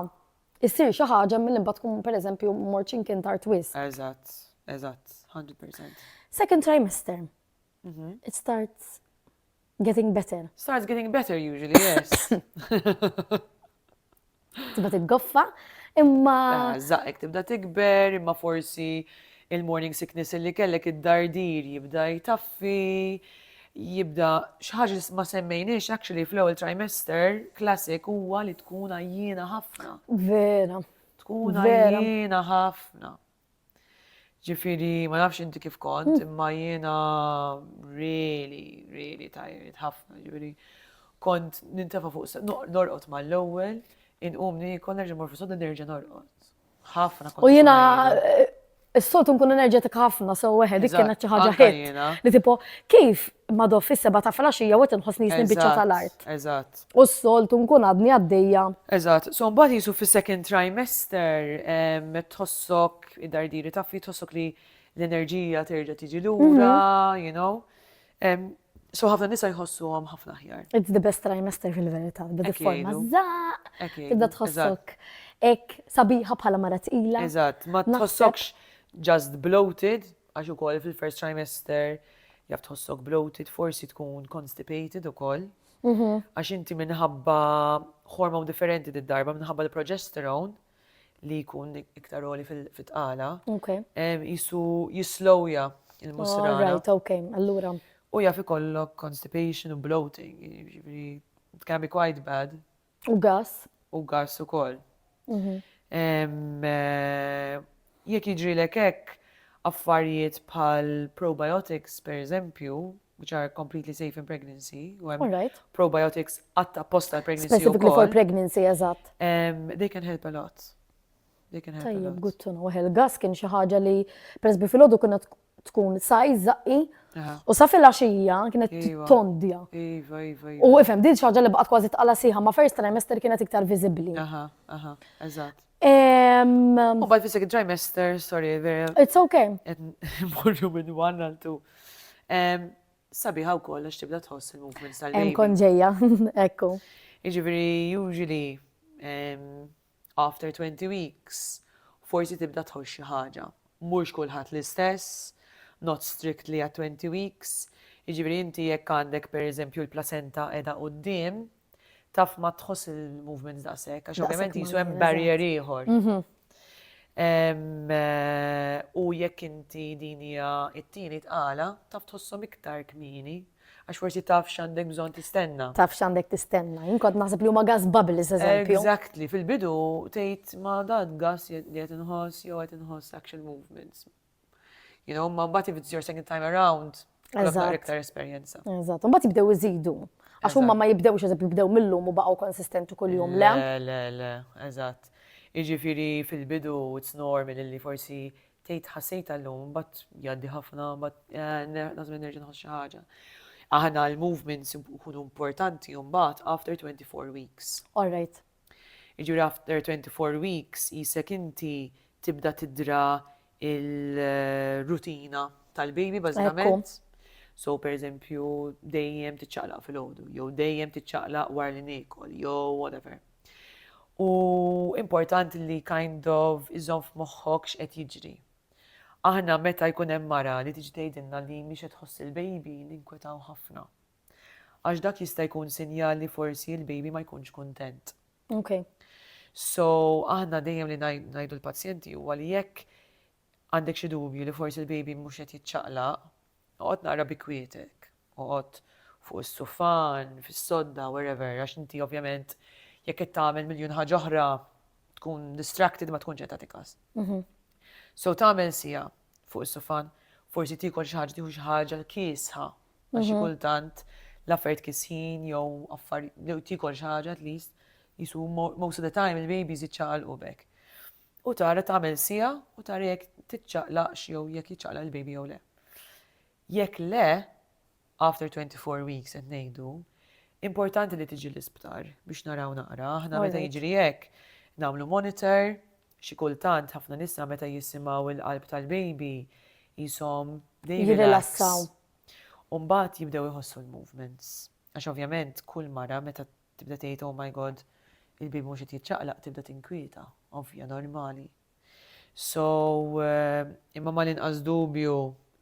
issir xi ħaġa milli mbagħad tkun pereżempju mort x'imkien tard wisq. Eżatt, eżatt, 100%. Second trimester. It starts getting better. Starts getting better usually, yes. Tibda tiggoffa, imma. Ah, Zaqqek tibda tikber, imma forsi il-morning sickness li kellek id-dardir jibda jtaffi, jibda xaħġa ma semmejniex actually fl-ewwel trimester classic huwa li tkun għajjina ħafna. Vera. Tkun għajjina ħafna. Ġifiri, ma nafx inti kif kont, hmm. imma jiena really, really tajrit ħafna, ġifiri. Kont nintefa fuq norqot ma l-ewwel, inqum nikol nerġa' morfu sodda nerġa' norqot. Ħafna kont. U jiena eh, s-soltu nkun enerġetik ħafna, so weħe, dik kienet xi ħaġa ħit. Li tipo, kif madof fis-seba ta' flaxija u qed inħossni nisni biċċa tal-art. Eżatt. U s-soltu nkun għadni għaddejja. Eżatt, so mbagħad jisu fis-second trimester tħossok id-dardiri taffi tħossok li l-enerġija terġa' tiġi lura, mhm. you know. So ħafna nisa jħossu għam ħafna ħjar. It's the best trimester fil-verita. Bada forma zaq, tibda tħossok ek sabiħa bħala mara tqila. Eżatt, ma tħossokx just bloated, għax ukoll fil-first trimester jaf tħossok bloated, forsi tkun constipated ukoll. Għax inti minħabba hormon differenti di darba minħabba l-progesterone li jkun iktar oli fil-tqala. Jisu jislowja il-musra. Right, ok, allura. U jaf ikollok constipation u bloating, jiġifieri it can be quite bad. U gas. U gas ukoll. Jekk jiġrilek hekk, affarijiet bħal probiotics per eżempju, which are completely safe in pregnancy, u hemm probiotics għatta apposta pregnancy. Specifically for pregnancy, eżatt. They can help a lot. They can help a lot. Tajjeb, good to know. Il-gas kien xi ħaġa li, peress bi filgħodu tkun sajz zaqqi U sa fil-axija kienet iva. tondja. Iva, iva, iva. U ifem, din xaġa li baqat kważi tqala siħa, ma first trimester kienet iktar viżibbli. Aha, aha, eżatt. U bad fisek trimester, sorry, vera. It's okay. Morru minn one għal two. Sabi ħaw koll, għax tibda tħoss il-movement tal-baby. Hemm konġeja, ekku. Iġifieri, usually, After twenty weeks forsi tibda tħoss xi ħaġa. Mhux kulħadd l-istess, not strictly għat-twenty weeks. Jiġifieri inti jekk għandek per eżempju l-placenta qiegħda quddiem, taf ma tħoss il-movements daqshekk għax ovvjament qisu hemm barrier ieħor. U jekk inti din hija t-tieni tqala, taf tħosshom iktar kmieni Għax forsi taf x'għandek bżonn tistenna. Taf x'għandek tistenna. Jien kont naħseb li huma gas bubbles eżempju. Exactly, fil-bidu tgħid ma dan gas li qed inħoss jew qed inħoss action movements. You know, ma mbagħad if it's your second time around, Eżatt. iktar esperjenza. Eżatt, mbagħad jibdew iżidu. Għax huma ma jibdewx eżempju jibdew mill-lum u baqgħu konsistenti kuljum le. Le, le, le, eżatt. Iġifieri fil-bidu it's normal li forsi Tgħid ħassejtha llum, mbagħad jgħaddi ħafna, mbagħad nażel nerġa' nħoss xi ħaġa. Aħna l-movements ikunu importanti u mbagħad after 24 weeks. All right. Jiġifieri after 24 weeks jisek inti tibda tidra il-rutina tal-baby bażikament. So per eżempju dejjem tiċċaqlaq fil-ħodu, jew dejjem tiċċaqlaq war li niekol, jew whatever. U importanti li kind of iżomm f'moħħok x'qed jiġri. Aħna meta jkun hemm mara li tiġi tgħidilna li mhix qed tħoss il-baby ninkwetaw ħafna. Għax dak jista' jkun sinjal li forsi l-baby ma jkunx kuntent. Okay. So aħna dejjem li ngħidu l-pazjenti huwa li jekk Għandek xi dubju li forsi l-baby mhux qed jiċċaqlaq? Oqgħod naqra bi kwietek. Oqgħod fuq is-sufan, fis-sodda, wherever, għax inti ovvjament jekk qed tagħmel miljun ħaġa oħra tkun distracted ma tkunx qed tagħti każ. So tagħmel siegħa fuq is-sufan, forsi tiekol xi ħaġa tieħu xi ħaġa l-kiesħa għax xi kultant l-affarijiet kisħin jew affarijiet jew tiekol xi ħaġa at least jisu most of the time il-babies jiċċaqalqu bek. U tara tagħmel siegħa u tara jekk tiċċaqlaqx jew jekk jiċċaqlaq il-baby jew le. Jekk le, after twenty four weeks qed ngħidu, importanti li tiġi l-isptar biex naraw naqra. Aħna meta jiġri hekk nagħmlu monitor, xi kultant ħafna nisa meta jisimgħu il-qalb tal-baby jisom jirrilassaw. Umbagħad jibdew iħossu l-movements. Għax ovvjament kull mara meta Tibda tgħid oh my God, il-bieb mhux qed jiċċaqlaq tibda tinkwieta, ovvja, normali. So, imma mal-inqas dubju,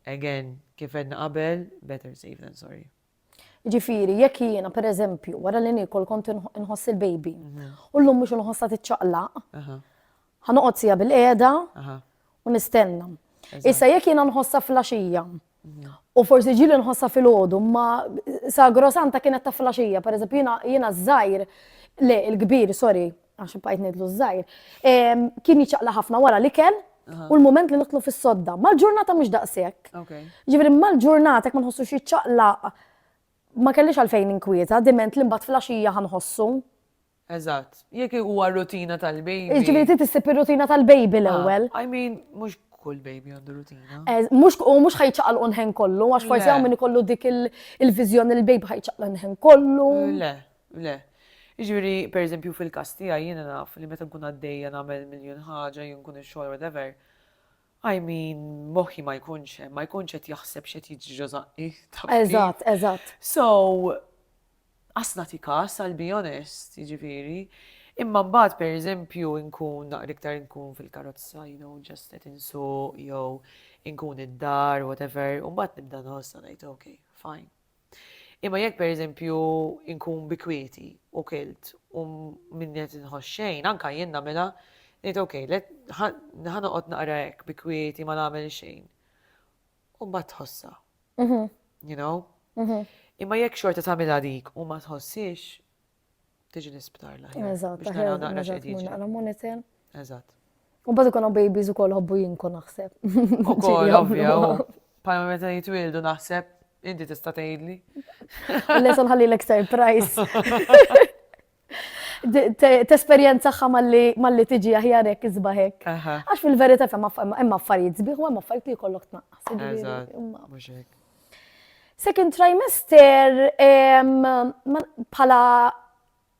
again, kif għedna qabel, better safe than sorry. Ġifiri, jekk jiena, per eżempju, wara li nikol kont nħoss il-baby, mhm. u l-lum mux nħossa t-ċaqlaq, ħanoqot sija bil-qeda u nistenna. Issa jekk jiena nħossa flasġija, U forsi ġili nħossa fil-ħodu, ma sagrosanta kienet ta' flasġija, per eżempju jina, jina zaħir, le, il-kbir, sorry, għax bajt nidlu zaħir, kien jċaqla ħafna wara li ken, u l-moment li nitlu fis-sodda. Mal-ġurnata mhux daqshekk. Ġifieri mal-ġurnata ma nħossu xi ċaqla ma kellix għalfejn inkwieta, diment li mbagħad flaxija ħanħossu. Eżatt. Jekk huwa r-rutina tal-baby. Jiġifieri trid issib ir-rutina tal-baby l-ewwel. I mean, mhux kull baby għandu rutina. Eh, mhux u mhux ħajċaqalqu nħen kollu, għax forsi hawn min ikollu dik il-viżjoni li l-baby ħajċaqla nħen kollu. Le, le. Jiġifieri, pereżempju fil-każ tiegħi jiena naf li meta nkun għaddejja nagħmel miljun ħaġa, jien nkun ix-xogħol whatever. I mean, moħħi ma jkunx hemm, ma jkunx qed jaħseb x'qed jiġri ġo żaqqi. Eżatt, eżatt. So, Qas nagħti kas, I'll be honest, jiġifieri. Imma mbagħad pereżempju nkun naqra iktar nkun fil-karozza, you know, just qed insuq jew inkun id-dar, whatever, u mbagħad nibda nħossna ngħid, ok, fine. Imma jekk pereżempju nkun bikwieti u kilt u minn qed inħoss xejn, anka jien nagħmilha, ngħid ok, ħanoqgħod naqra hekk bikwieti ma nagħmel xejn. u ma tħossha. Mhm. You know? Mhm. Imma jekk xorta tagħmilha dik u ma tħossix, tiġi l-isptar la. Eżatt, biex naraw naqra x'qed Naqra monitor. Eżatt. U bad ikun babies u koll hobbu jinku naħseb. U koll, ovvja, palma meta jitwildu naħseb, inti tista' tgħidli. Lesson ħalli l-ek surprise. Tesperjenzaħħa malli tiġi aħjar hekk iżbaħek. Għax fil-verità hemm affarijiet sbieħ u hemm affarijiet li jkollok tnaqqas. Second trimester bħala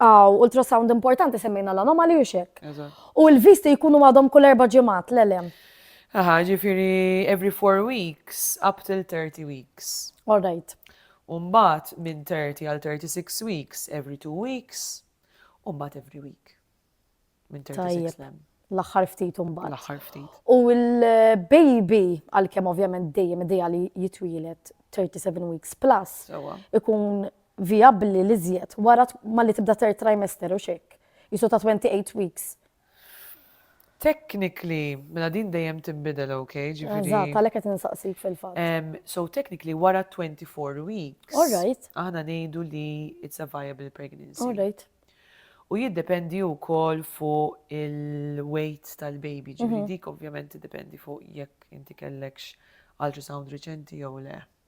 għaw ultrasound importanti semmejna l-anomali u xek. U l-visti jkunu għadhom kull erba ġemat l-elem. Aha, ġifiri every four weeks up till 30 weeks. All right. u mbagħad minn 30 għal 36 weeks every two weeks u mbagħad every week minn 36 l-hemm. L-aħħar ftit mbagħad. L-aħħar ftit. U l-baby għalkemm ovvjament dejjem idea li jitwielet 37 weeks plus ikun vijabbli li żjed wara ma li tibda third trimester u xek. Jisu ta' 28 weeks Technically, mela din dejjem tinbidel, ok? Ġifieri. Eżatt, għalhekk qed insaqsik fil-fatt. Ehm, so technically wara 24 weeks. All right. Aħna ngħidu li it's a viable pregnancy. All right. U jiddependi wkoll fuq il-weight tal-baby, ġifieri mhm. dik ovvjament tiddependi fuq jekk inti kellekx ultrasound riċenti jew le.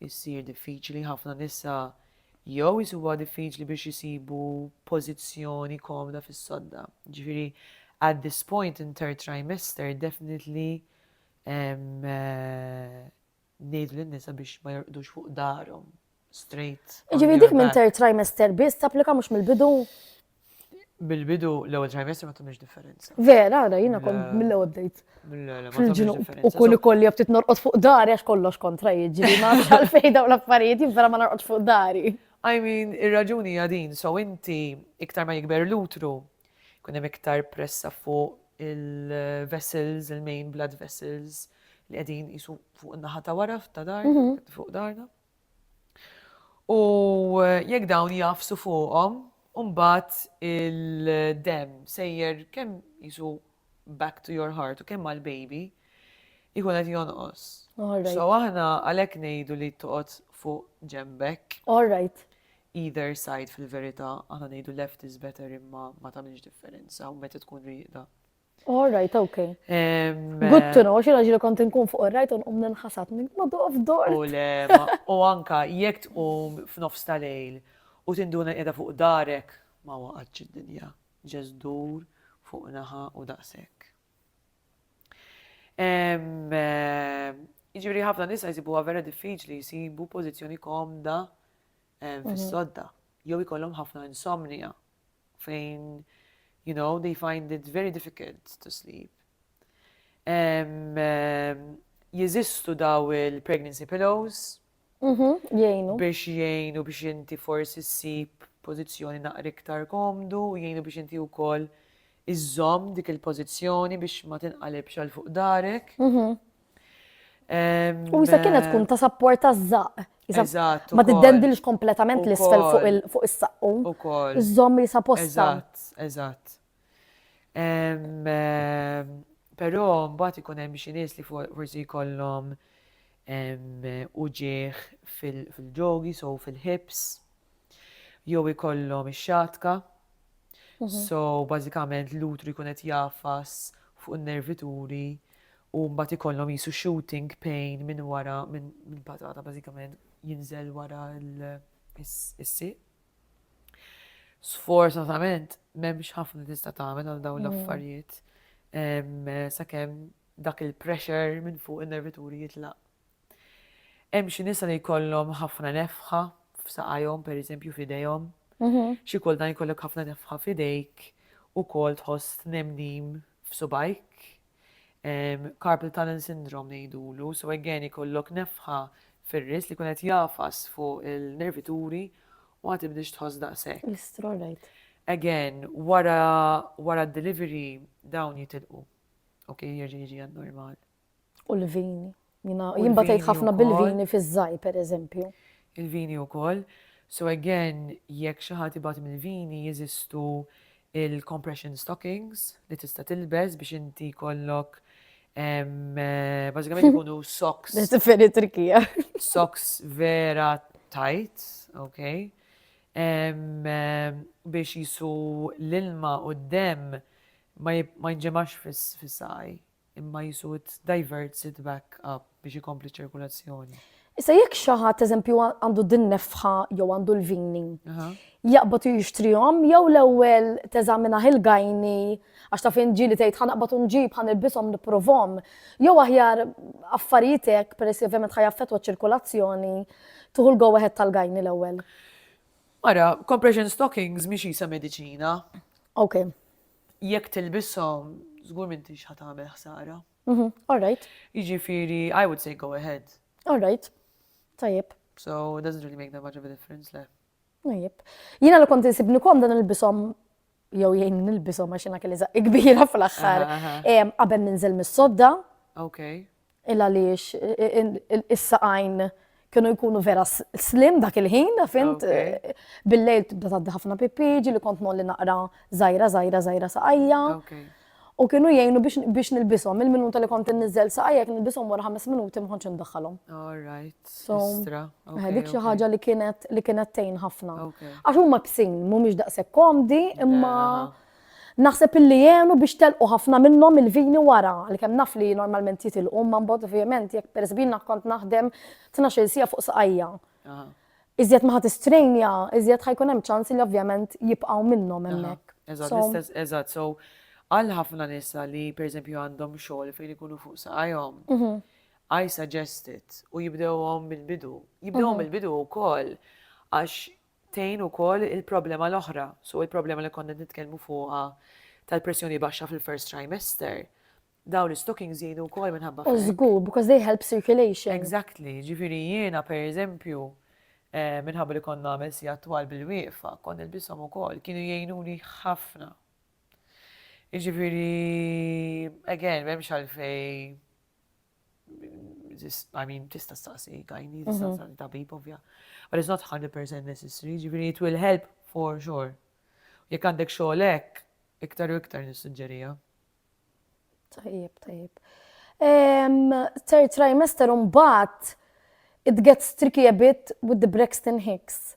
issir diffiċli, ħafna nisa jew isibuha diffiċli biex isibu pożizzjoni komda fis-sodda. Ġifieri at this point in third trimester definitely ngħidu lin-nisa biex ma jorqdux fuq darhom straight. Ġifieri dik minn third trimester biss tapplika mhux mill-bidu? Mill-bidu l-ewwel trimestru ma tagħmilx differenza. Vera, ara jiena kont mill-ewwel bdejt. Fil-ġnub u kull ikoll li ftit norqod fuq dari għax kollox kontra jiġri ma nafx għalfejn dawn l-affarijiet vera ma norqodx fuq dari. I mean, ir-raġuni hija din, so inti iktar ma jikber l-utru, kun hemm iktar pressa fuq il-vessels, il-main blood vessels li qegħdin jisu fuq in-naħa ta' wara ta' dar, mhm. fuq darna. U jekk dawn jagħfsu fuqhom, imbagħad il-demm sejjer kemm jisu back to your heart u kemm għall-baby jkun qed jonqos. So aħna għalhekk ngħidu li toqgħod fuq ġembek. All right. Either side fil-verità, aħna ngħidu left is better imma ma tagħmilx differenza u meta tkun rieqda. All right, okay. Good to know, xi raġel kont inkun fuq ir-rajt u nqum ninħasad minn ma doqf dor. U le, u anka jekk tqum f'nofs tal-lejl u tinduna qiegħda fuq darek ma waqgħatx id-dinja. Ġest dur fuq naħa u daqshekk. Jiġifieri ħafna nisa jsibuha vera diffiċli jsibu pożizzjoni komda mhm. fis-sodda jew ikollhom ħafna insomnija. fejn you know they find it very difficult to sleep. Jeżistu daw il-pregnancy pillows. Mhm, jgħinu. Biex jgħinu biex inti forsi ssib pożizzjoni naqra iktar komdu, jgħinu biex inti wkoll iżżomm dik il-pożizzjoni biex ma tinqalibx għal fuq darek. Mhm. U jisa kienet tkun ta' sapport ta' zaq. Eżatt. Ma tiddendilx kompletament l-isfel fuq is-saqqu. Ukoll. Iżomm jisa posta. Eżatt, eżatt. Però mbagħad ikun hemm xi nies li forsi jkollhom uġigħ fil-ġogi, so fil-hips. jew ikollhom ix-xatka, so bażikament l-utru jkun qed jagħfas fuq in-nervituri u mbagħad ikollhom jisu shooting pain minn wara minn patata bażikament jinżel wara l-siq. Sfortunatament m'hemmx ħafna tista' tagħmel għal dawn l-affarijiet sakemm dak il-pressure minn fuq in-nervituri jitlaq Hemm xi nisa li jkollhom ħafna nefħa f'saqajhom, pereżempju f'idejhom. Xi kultant jkollok ħafna nefħa f'idejk, ukoll tħoss tnemnim f'subgħajk. Carpal tunnel syndrome ngħidulu, so again ikollok nefħa fir-ris li jkun qed jagħfas fuq il-nervituri u ma tibdiex tħoss daqshekk. L-istronajt. Again, wara d-delivery dawn jitilqu. Ok, jirġi jiġi għad-normal. U l-vini. Jina jien batejt ħafna bil-vini fiż-żaj, per eżempju. Il-vini u koll. So again, jekk xi ħadd ibati mill-vini jeżistu il-compression stockings li tista' tilbes biex inti kollok bażikament ikunu socks. Differi trikija. Socks vera tight, ok? Biex jisu l-ilma u d-dem ma jinġemax fis-saj. Imma qisu it diverts it back up biex ikompli ċ-ċirkulazzjoni. Issa jekk xi ħadd eżempju għandu din-nefħa jew għandu l-vini, jaqbad u jixtrihom jew l-ewwel teżaminah il-gyni għax taf in ġieli tgħid ħa naqbad u nġib, ħa nilbishom, nipprovhom, jew aħjar affarijiet hekk peress li ovvjament ħa jaffettwa ċ-ċirkulazzjoni, tieħu l-go ahead tal-gyni l-ewwel. Ara, compression stockings mhix qisha mediċina. Okej. Jekk tilbishom, żgur m'intix ħa tagħmel ħsara. Mhm, all right. Jiġifieri, I would say go ahead. All right. Tajjeb. So, it doesn't really make that much of a difference, le. Najib. Jina li kont insibni kom dan il-bisom jew jgħin nil-bisom għax jina kelli zaqq kbira fl-axħar. Qabel ninżel mis-sodda. Ok. il għaliex is-saqajn kienu jkunu vera slim dak il-ħin, fint, bil-lejl tibda taddi ħafna pipi, ġili kont molli naqra zajra, zajra, zajra saqajja. U kienu jgħinu biex nilbisom, il-minuta li kont nizzel saqajja, kien nilbisom wara ħames minuti mħonċ ndaħħalhom. All right. So, eh, dik xi ħaġa li kienet li kienet tejn ħafna. Għax huma bsin, mhumiex daqshekk komdi, imma. Yeah. Naħseb illi għenu biex telqu ħafna minnhom il-vini wara, għalkemm naf li normalment jitilqu imma mbagħad ovvjament jekk pereżb jiena kont naħdem tnax-il siegħa fuq saqajja. Iżjed ma ħa tistrejnja, iżjed ħa jkun hemm ċans li ovvjament jibqgħu minnhom hemmhekk. Eżatt, l-istess, eżatt. So, għal ħafna nisa li pereżempju għandhom xogħol fejn ikunu fuq saqajhom, I suggest it u jibdewhom mill-bidu. Jibdewhom mill-bidu wkoll għax Tgħin ukoll il-problema l-oħra, so il-problema li konna qed nitkellmu fuqha tal-pressjoni baxxa fil-first trimester. Dawn l-istockings jgħinu wkoll minħabba f'hekk. Żgur, because they help circulation. Exactly, ġifieri jiena pereżempju minħabba li konna nagħmel sigħat twal bil-wieqfa, kont nilbishom ukoll, kienu jgħinuni ħafna. Jiġifieri, again, m'hemmx għalfejn I mean, tista staqsi għajni, tista mhm. staqsi tabib, ovvja. But it's not 100% necessary, ġifiri, it will help for sure. Jek għandek xoħlek, iktar u iktar nissuġġerija. Tajib, tajib. Third trimester un bat, it gets tricky a bit with the Braxton Hicks.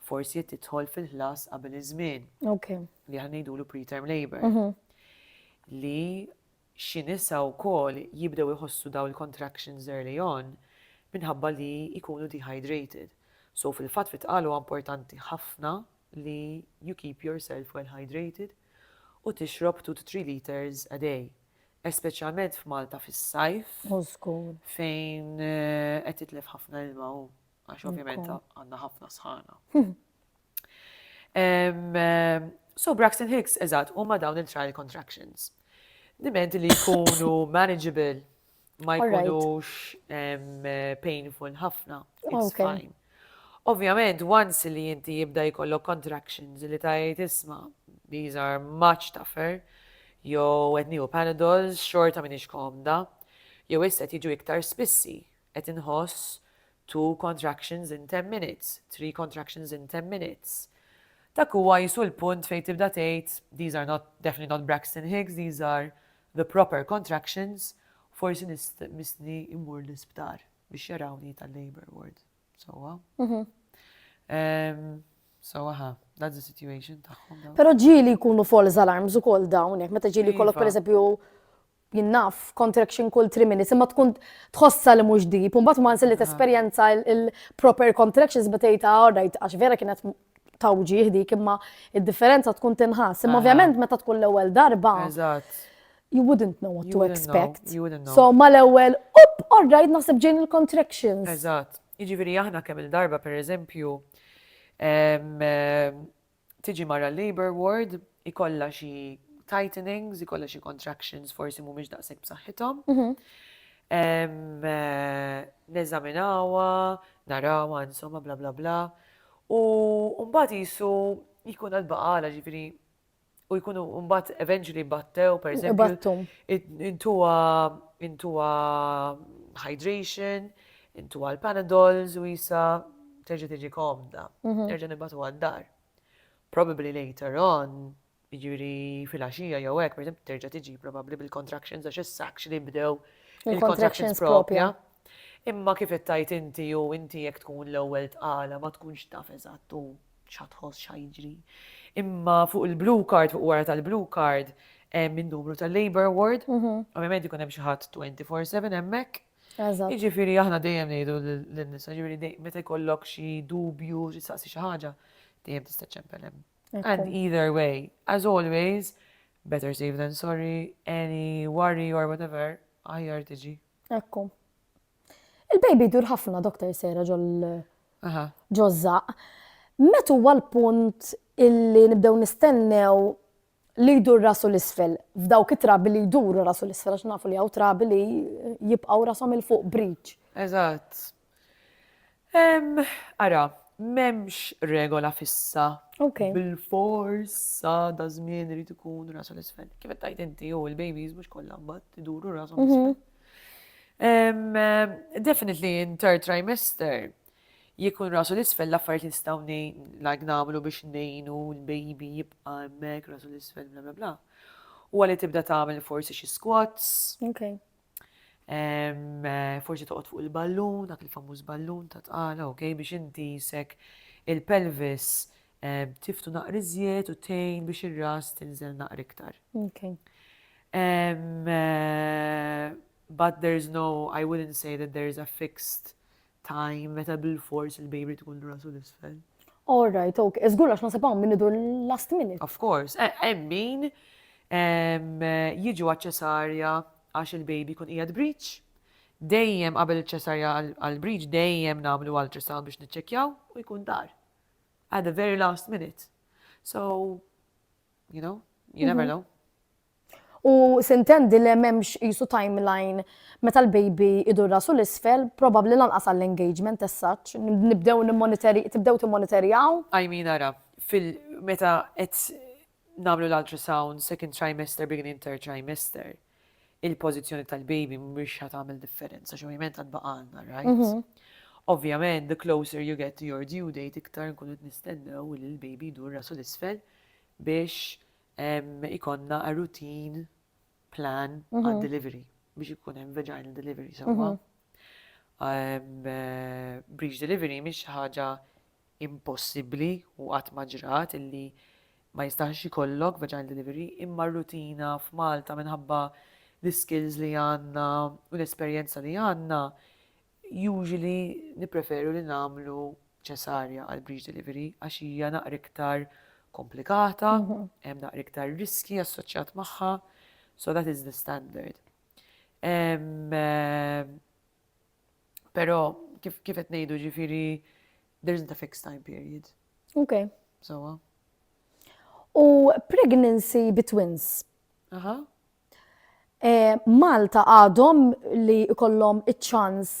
forsi qed tidħol fil-ħlas qabel iż-żmien. Okay. Li aħna ngħidulu preterm labor. Mm -hmm. Li xi nisa wkoll jibdew iħossu daw il-contractions early on minħabba li jkunu dehydrated. So fil-fatt fit qalu importanti ħafna li you keep yourself well hydrated u tixrob 2 to 3 liters a day. Espeċjalment f'Malta fis-sajf. Fejn eh, qed titlef ħafna ilma u. għax ovvjament għandna ħafna sħana. So Braxton Hicks, eżatt, huma dawn il-trial contractions. Diment li jkunu manageable, ma jkunux painful ħafna. It's fine. Ovvjament, once li jinti jibda jkollok contractions li tajt isma, these are much tougher, jew etni u panadols, xorta minix komda, jew isset jiġu iktar spissi, Qed inħoss two contractions in ten minutes, three contractions in ten minutes. Dak huwa qisu l-punt fejn tibda tgħid these are not, definitely not Braxton Hicks, these are the proper contractions, forsi missni immur l-isptar biex jarawni tal-labor ward. Sowa. So, aha, that's the situation tagħhom. Pero ġili jkunu false alarms u kol dawn, meta ġili kollok per eżempju jien naf, contraction kull three minutes, imma tkun tħossha li mhux deep, u mbagħad once li tesperjenza il-proper contractions meta tgħid ah, all right, għax vera kienet tawġi dik imma id-differenza tkun tinħass. Imma ovvjament meta tkun l-ewwel darba. You wouldn't know what to expect. So ma l-ewwel, up, all right, naħseb ġejn il-contractions. Eżatt. Jiġifieri aħna kemm il-darba pereżempju Tiġi mara l-labour ward, ikollha xi tightenings, ikollha xi contractions forsi mhumiex daqshekk b'saħħithom. Neżaminawha, narawha, insomma bla bla bla. U mbagħad qisu jkun għad baqa' għala ġifieri u jkunu mbagħad eventually battew pereżempju. Intuha hydration. Intuha l-panadols u jisa terġa' tiġi komda, terġa' nibatu għad-dar. Probably later on, jiġifieri fil-għaxija jew hekk, per terġa' tiġi probabbli bil-contractions għax issa actually bdew il-contractions propja. Imma kif ittajt inti u inti jekk tkun l-ewwel tqala ma tkunx taf eżatt u x'ħatħoss x'ħajġri. Imma fuq il-blue card, fuq wara tal-blue card, hemm in-numru tal-labor ward, ovvjament ikun hemm xi ħadd 24/7 hemmhekk Eżatt. Jiġifieri aħna dejjem ngħidu lin-nisa, ġifieri meta jkollok xi dubju, xi saqsi xi ħaġa, dejjem tista' ċempel hemm. And either way, as always, better safe than sorry, any worry or whatever, aħjar tiġi. Ekku. Il-baby dur ħafna, Dr. Sera, ġozzaq. Metu huwa l-punt illi nibdew nistennew li jdur rasu 'l isfel, f'dawk it-trabi li jduru rasu 'l isfel, għax nafu li hawn trabi li jibqgħu rashom 'il fuq, bridge. Eżatt. Ehm, ara, m'hemmx regola fissa. Ok. Bil-fors sa da żmien irid ikun rasu 'l isfel. Kif qed tgħid inti hu l-babies mhux kollha mbagħad iduru rashom 'l isfel. Ehm, definitely in third trimester, Jkun rasu l-isfel l-affarijiet li nistgħu like nagħmlu biex ngħinu l-baby jibqa' hemmhekk rasu l-isfel bla bla bla. U għalli tibda tagħmel forsi xi squats. Okay. Eh, forsi toqgħod fuq il-ballun, dak il-famuż ballun ta' tqala, ok, biex inti jisek il-pelvis tiftu naqri żjed u tejn biex ir-ras tinżel naqri iktar. Ok. Eh, but there's no, I wouldn't say that there's a fixed Time, meta bil-fors il-baby irid ikun rasu l-isfel. All right, ok. E żgur għax nasib hawn min idur last minute. Of course, e, hemm min jiġu għaċ-ċesarja għax il-baby kun qiegħed breach. Dejjem qabel iċ-ċesarja għall-breach dejjem nagħmlu ultrasound biex niċċekkjaw u jkun dar. At the very last minute. So, You know? You never know. U sintendi li memx jisu timeline meta l-baby idur rasu l-isfel, probabli lanqas għall-engagement as such, nibdew tibdew timmonitorjaw. I mean ara, fil-meta qed namlu l-ultrasound second trimester, beginning third trimester, il-pożizzjoni tal-baby mhix ħa tagħmel differenza, xi ovvjament għad baqgħalna rights. Ovvjament, the closer you get to your due date, iktar nkunu qed nistennew li l-baby jdur rasu l-isfel biex ikonna a routine plan għad delivery biex ikun hemm vaginal delivery sewwa. Breach delivery mhix ħaġa impossibbli u qatt ma ġrat illi ma jistax ikollok vaginal delivery imma r-rutina f'Malta minħabba l-iskills li għandna u l-esperjenza li għandna usually nippreferu li nagħmlu ċesarja għal breech delivery għax hija naqra iktar komplikata, hemm naqra iktar riski assoċjat magħha, so that is the standard. Pero, kif kif qed ngħidu ġifieri there isn't a fixed time period. Okay. Sowa. U pregnancy bi twins. Aha. Eh, Malta għadhom li kollhom iċ-ċans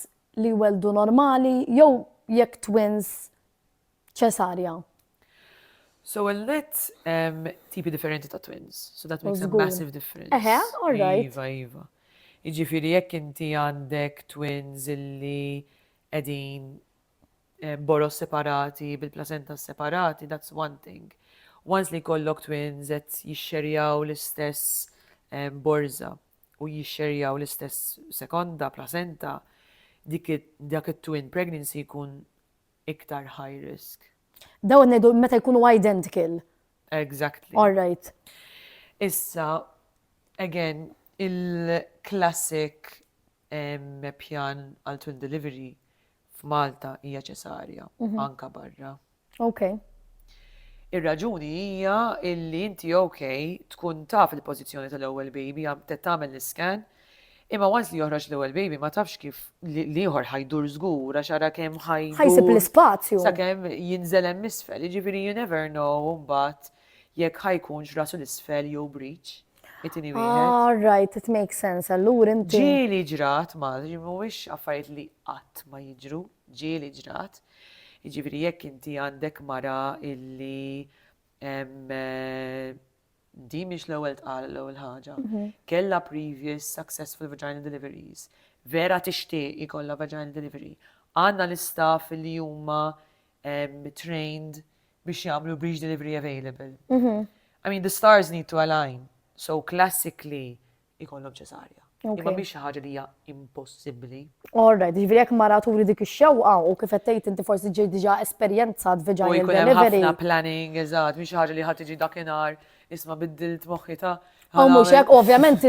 li weldu normali jew jekk twins Ċesarja. So well that's um, tipi differenti ta' twins. So that makes a massive difference. Eħe, all right. Iva, iva. Iġifiri jekk inti għandek twins illi edin eh, boros separati, bil-placenta separati, that's one thing. Once li kollok twins et jixxerjaw l-istess eh, borza u jixxerjaw l-istess sekonda placenta, dik dak it-twin pregnancy jkun iktar high risk. Dawn ngħidu meta jkunu identical. Exactly. All right. Issa, again, il-classic pjan għal twin delivery f'Malta hija ċesarja, mhm. anka barra. Ok. Ir-raġuni hija illi inti ok tkun taf il-pożizzjoni tal-ewwel baby għam tagħmel l-iskan Imma once li joħroġ l-ewwel baby ma tafx kif l-ieħor ħa jdur żgur għax ara kemm ħa jdur. Ħa jsib l-ispazju. Sakemm jinżel hemm isfel, jiġifieri you never know mbagħad jekk ħa jkunx rasu l-isfel jew breech. It-tieni wieħed. Ah, right, it makes sense. Allura inti. Ġieli ġrat ma, mhuwiex affarijiet li qatt ma jiġru, ġieli ġrat. Jiġifieri jekk inti għandek mara illi eh, Din mhix l-ewwel tqal l-ewwel ħaġa. Kellha previous successful vaginal deliveries. Vera tixtieq ikollha vaginal delivery. Għandna l-istaff li huma trained biex jagħmlu breech delivery available. I mean, the stars need to align. So classically, ikollhom ċesarja. Imma mhix xi ħaġa li hija impossibbli. All right, jiġifieri jekk mara turi dik ix-xewqa u kif qed tgħid inti forsi ġej diġà esperjenzat vaginal delivery. U jkun hemm ħafna planning, eżatt, mhix xi ħaġa li ħadd tiġi dakinhar isma' biddilt moħħi ta' U mhux hekk, ovvjament,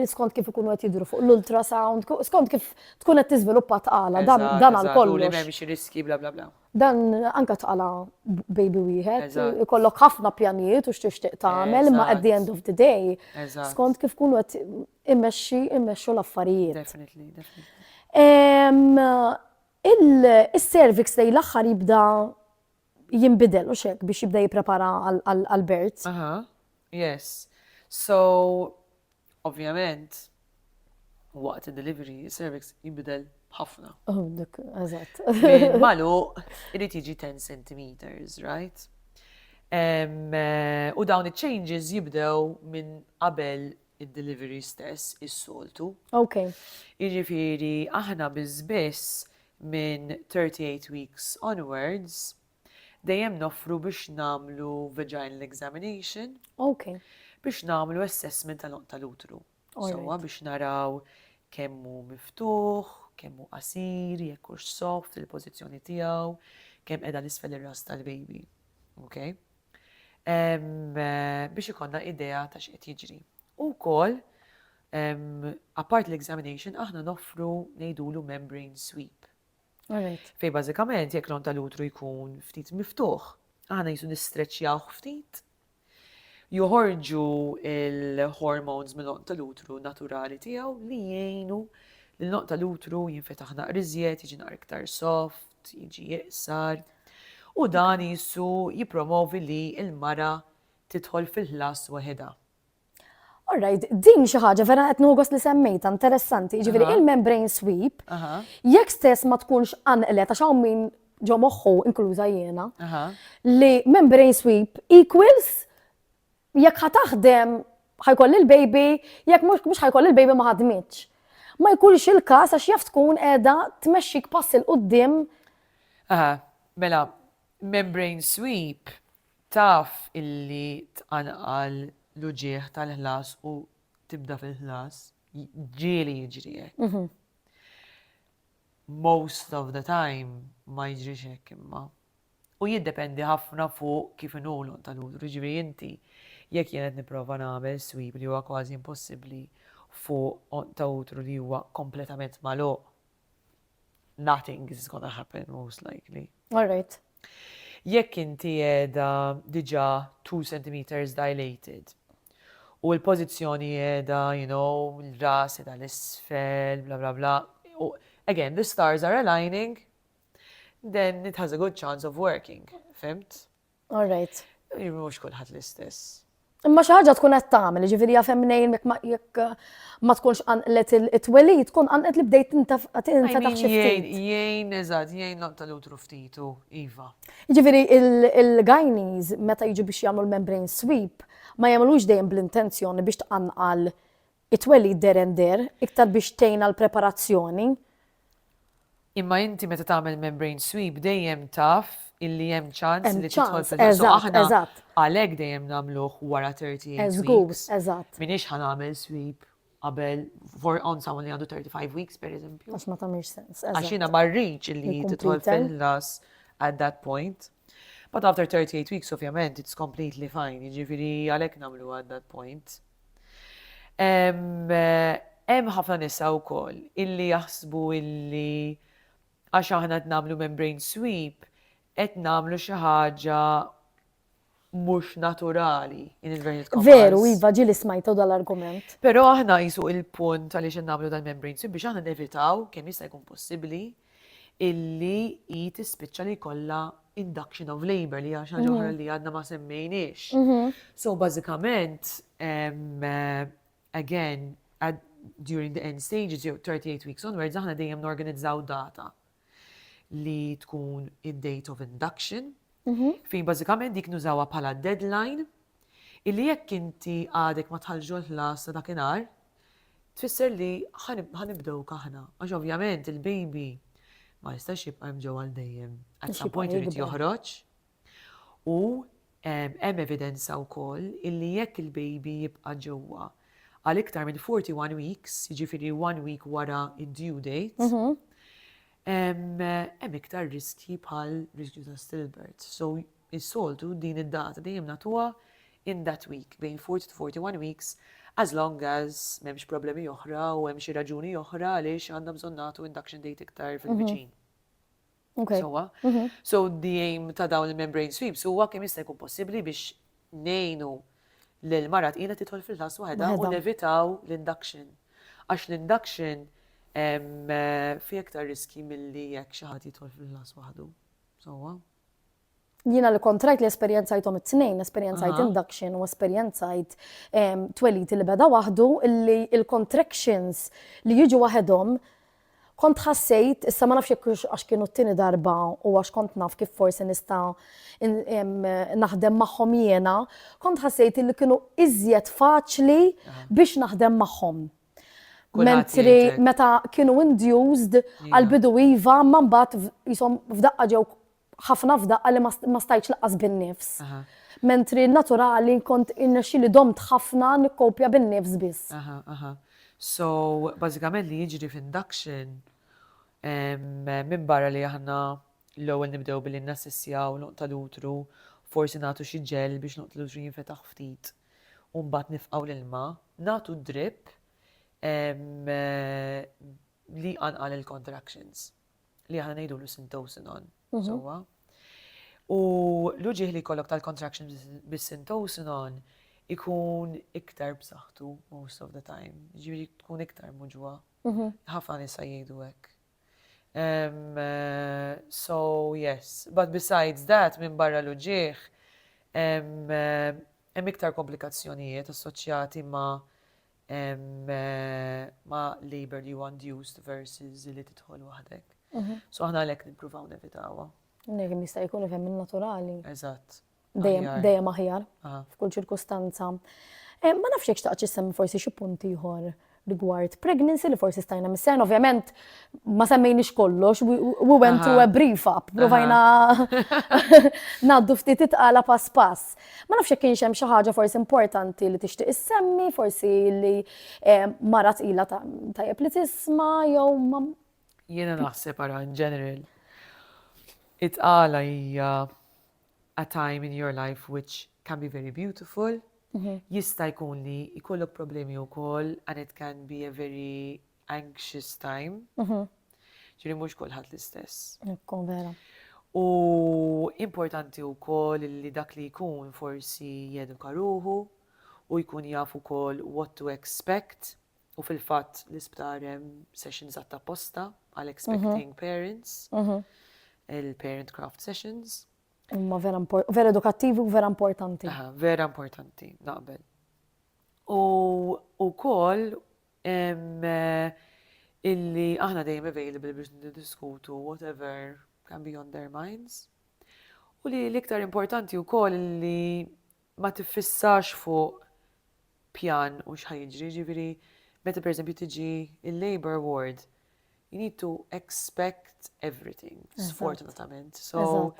skont kif ikunu qed jidru fuq l-ultrasound, skont kif tkun qed tiżviluppa tqala, dan għal kollu. Li m'hemmx riski bla bla bla. Dan anke tqala' baby wieħed, ikollok ħafna pjanijiet u x'tixtieq tagħmel, imma at the end of the day, skont kif tkun qed immexxi immexxu l-affarijiet. Is-cervix lejn l-aħħar jibda jinbidel u x'hekk biex jibda jipprepara għall-birth. Aha, yes. So, Ovvjament, waqt id-delivery, is-cervix jinbidel b'ħafna. Oh, dik, eżatt. Maluq, irid jiġi 10 centimeters, right? Eh, u dawn iċ-changes jibdew minn qabel id-delivery stess is-soltu. Ok. Jiġifieri aħna biss minn 38 weeks onwards Dejjem noffru biex nagħmlu vaginal examination. Ok. Biex nagħmlu assessment tal oqta tal-utru. Sowa biex naraw kemm hu miftuħ, kemm hu qasir, jekk hux soft il-pożizzjoni tiegħu, kemm qiegħda l-isfel ir-ras tal-baby. Ok? Eh, biex ikonna idea ta' x'qed jiġri. U wkoll apart l-examination aħna noffru ngħidulu membrane sweep. Fej bażikament jekk l-on tal-utru jkun ftit miftuħ, aħna jisu nistreċjaw ftit, joħorġu il-hormones mill-on tal-utru naturali tiegħu li jgħinu l-on tal-utru jinfetaħ naqri żjed, jiġi naqri iktar soft, jiġi jiqsar. U dan jisu jipromovi li il-mara titħol fil-ħlas waħedha. All right, din xi ħaġa vera qed nogos li semmejta interessanti, ġifieri il-membrane sweep, jekk stess ma tkunx anqlet għax hawn min ġo moħħu inkluża jiena, li membrane sweep equals jekk ħa taħdem ħajkoll il-baby, jekk mhux ħajkoll il-baby ma ħadmitx. Ma jkunx il-każ għax jaf tkun qiegħda tmexxik pass il qudiem Aha, mela, membrane sweep Taf illi tqanqal l-uġigħ tal-ħlas u tibda fil-ħlas? Ġieli jiġri hekk. Most of the time ma jiġrix hekk imma. U jiddependi ħafna fuq kif inhu l-għon tal-udru. Jiġri inti jekk jien qed nipprova nagħmel swib li huwa kważi impossibbli fuq għon ta' udru li huwa kompletament magħluq, nothing is gonna happen most likely. All right. Jekk inti qiegħda diġà two centimetres dilated u l-pożizzjoni qiegħda you know, l-ras qiegħda 'l isfel, bla bla bla, u again, the stars are aligning, then it has a good chance of working, fhimt? All right. Mhux kulħadd l-istess. Imma xi ħaġa tkun qed tagħmel, jiġifieri jaf hemm mnejn jekk ma tkunx qanqlet it-twelid, tkun qanqlet li bdejt tinfetaħ xi ftit. Jgħin eżatt, jgħin loq tal-utru ftitu, iva. Jiġifieri il-gajniż meta jiġu biex jagħmlu l-membrane sweep ma jagħmlux dejjem bl-intenzjoni biex tqanqal It-twelid dehren deher iktar biex tgħin għall-preparazzjoni. Imma inti meta tagħmel membrane sweep dejjem taf illi hemm ċans li tidħol fil-ġuħ. So aħna għalhekk dejjem nagħmluh wara 30 weeks. Żgur, eżatt. Minix ħa nagħmel sweep qabel for on someone li għandu 35 weeks per eżempju. Għax ma tagħmilx sens. Għax jiena ma rridx illi tidħol fil-las at that point. But after 38 weeks, ovvjament, it's completely fine. Jiġifieri għalhekk nagħmlu at that point. Hemm ħafna nisa wkoll illi jaħsbu illi għax aħna qed nagħmlu membrane sweep qed nagħmlu xi ħaġa mhux naturali in inverted commas. Veru, iva ġi li smajtu dal-argument. Però aħna jisu il-punt għaliex qed nagħmlu dal-membrane sweep biex aħna nevitaw kemm jista' jkun possibbli illi hi tispiċċa li jkollha induction of labour li hija xi ħaġa oħra li għadna ma semmejniex. So bażikament, again, during the end stages, jew 38 weeks onwards, aħna dejjem norganizzaw data li tkun id-date of induction, fejn bażikament dik nużawha bħala deadline illi jekk inti għadek ma dħaltx ġol ħlas ta' dakinhar, tfisser li ħa nibdewk aħna. Għax ovvjament il-baby ma jistax jibqa' hemm ġewwa għal dejjem. At some point irid joħroġ. U hemm evidenza wkoll illi jekk il-baby jibqa' ġewwa għal iktar minn 41 weeks, jiġifieri one week wara d-due date, hemm iktar riskji bħal riskju ta' stillbirth. So Is-soltu din id-data dejjem nagħtuha in that week, bejn 40 to 41 weeks, as long as m'hemmx problemi oħra u hemm xi raġuni oħra għaliex għandna bżonn nagħtu induction date iktar fil-viċin. Sewwa? So the aim ta' dawn il-membrane sweeps huwa kemm jista' jkun possibbli biex ngħinu lil mara tqila tidħol fil-ħlas waħedha u nevitaw l-induction. Għax l-induction fi iktar riski milli jekk xi ħadd jidħol fil-ħlas waħdu. Sewwa? Jiena li kont rajt li esperjenzajthom it-tnejn, esperjenzajt induction u esperjenzajt ehm, tweliti li beda waħdu, li il-contractions li jiġu waħedhom kont ħassejt, issa ma nafx jekk għax kienu t-tini darba u għax kont naf kif forsi nista naħdem magħhom jiena, kont ħassejt li kienu iżjed faċli biex naħdem magħhom. Mentri meta kienu induced għal-bidu iva, ma mbagħad jisom f'daqqa ġew ħafna f'daqqa li ma stajċ laqqas bin-nifs. Mentri naturali kont innexxi li domt ħafna nikkopja bin-nifs biss. So, bażikament li jiġri f'induction minn barra li aħna l-ewwel nibdew billi nassessjaw l-għonq tal-utru, forsi nagħtu xi ġel biex l-għonq tal-utru jinfetaħ ftit. u mbagħad nifqgħu l-ilma, nagħtu d-drip li jqanqal il-contractions li aħna ngħidulu syntocinon, sewwa? U l-uġigħ li jkollok tal-contractions bis-syntocinon ikun iktar b'saħħtu most of the time, ġifieri tkun iktar muġwa. Ħafna nisa jgħidu hekk. Ehm, so yes, but besides that, minn barra l-uġieħ, ehm, hemm iktar komplikazzjonijiet assoċjati ma' ehm, ma' labor li huwa induced versus li tidħol waħdek. Mhm. So aħna għalhekk nippruvaw nevitawha. Negi mista' jkun fem naturali. Eżatt. dejjem aħjar f'kull ċirkustanza. Eh, ma nafx jekk xtaqt xissemmi forsi xi punt ieħor rigward pregnancy li forsi stajna missen, ovvjament ma semmejniex kollox, we went through a brief up, provajna naddu ftit itqala pass pass. Ma nafx kienx hemm xi ħaġa forsi importanti li tixtieq issemmi, forsi li eh, marat ila tajjeb li tisma' jew ma. Jiena naħseb ara in general. Itqala hija a time in your life which can be very beautiful, jista' jkun li jkollok problemi wkoll and it can be a very anxious time. Ġifieri mhux kulħadd l-istess. Ekku, vera. U importanti wkoll li dak li jkun forsi jeduka ruħu u jkun jaf ukoll what to expect U fil-fatt l-isptar hemm sessions għatta apposta għal expecting parents, il-parent craft sessions. Imma vera, vera edukattivi u vera importanti. Aha, vera importanti, naqbel. U, u kol, eh, illi aħna dejjem available biex niddiskutu whatever can be on their minds. U li l-iktar importanti u koll li ma tiffissax fuq pjan u x'ħa jiġri, jiġifieri meta pereżempju tiġi il-labor ward, you need to expect everything, sfortunatament. So,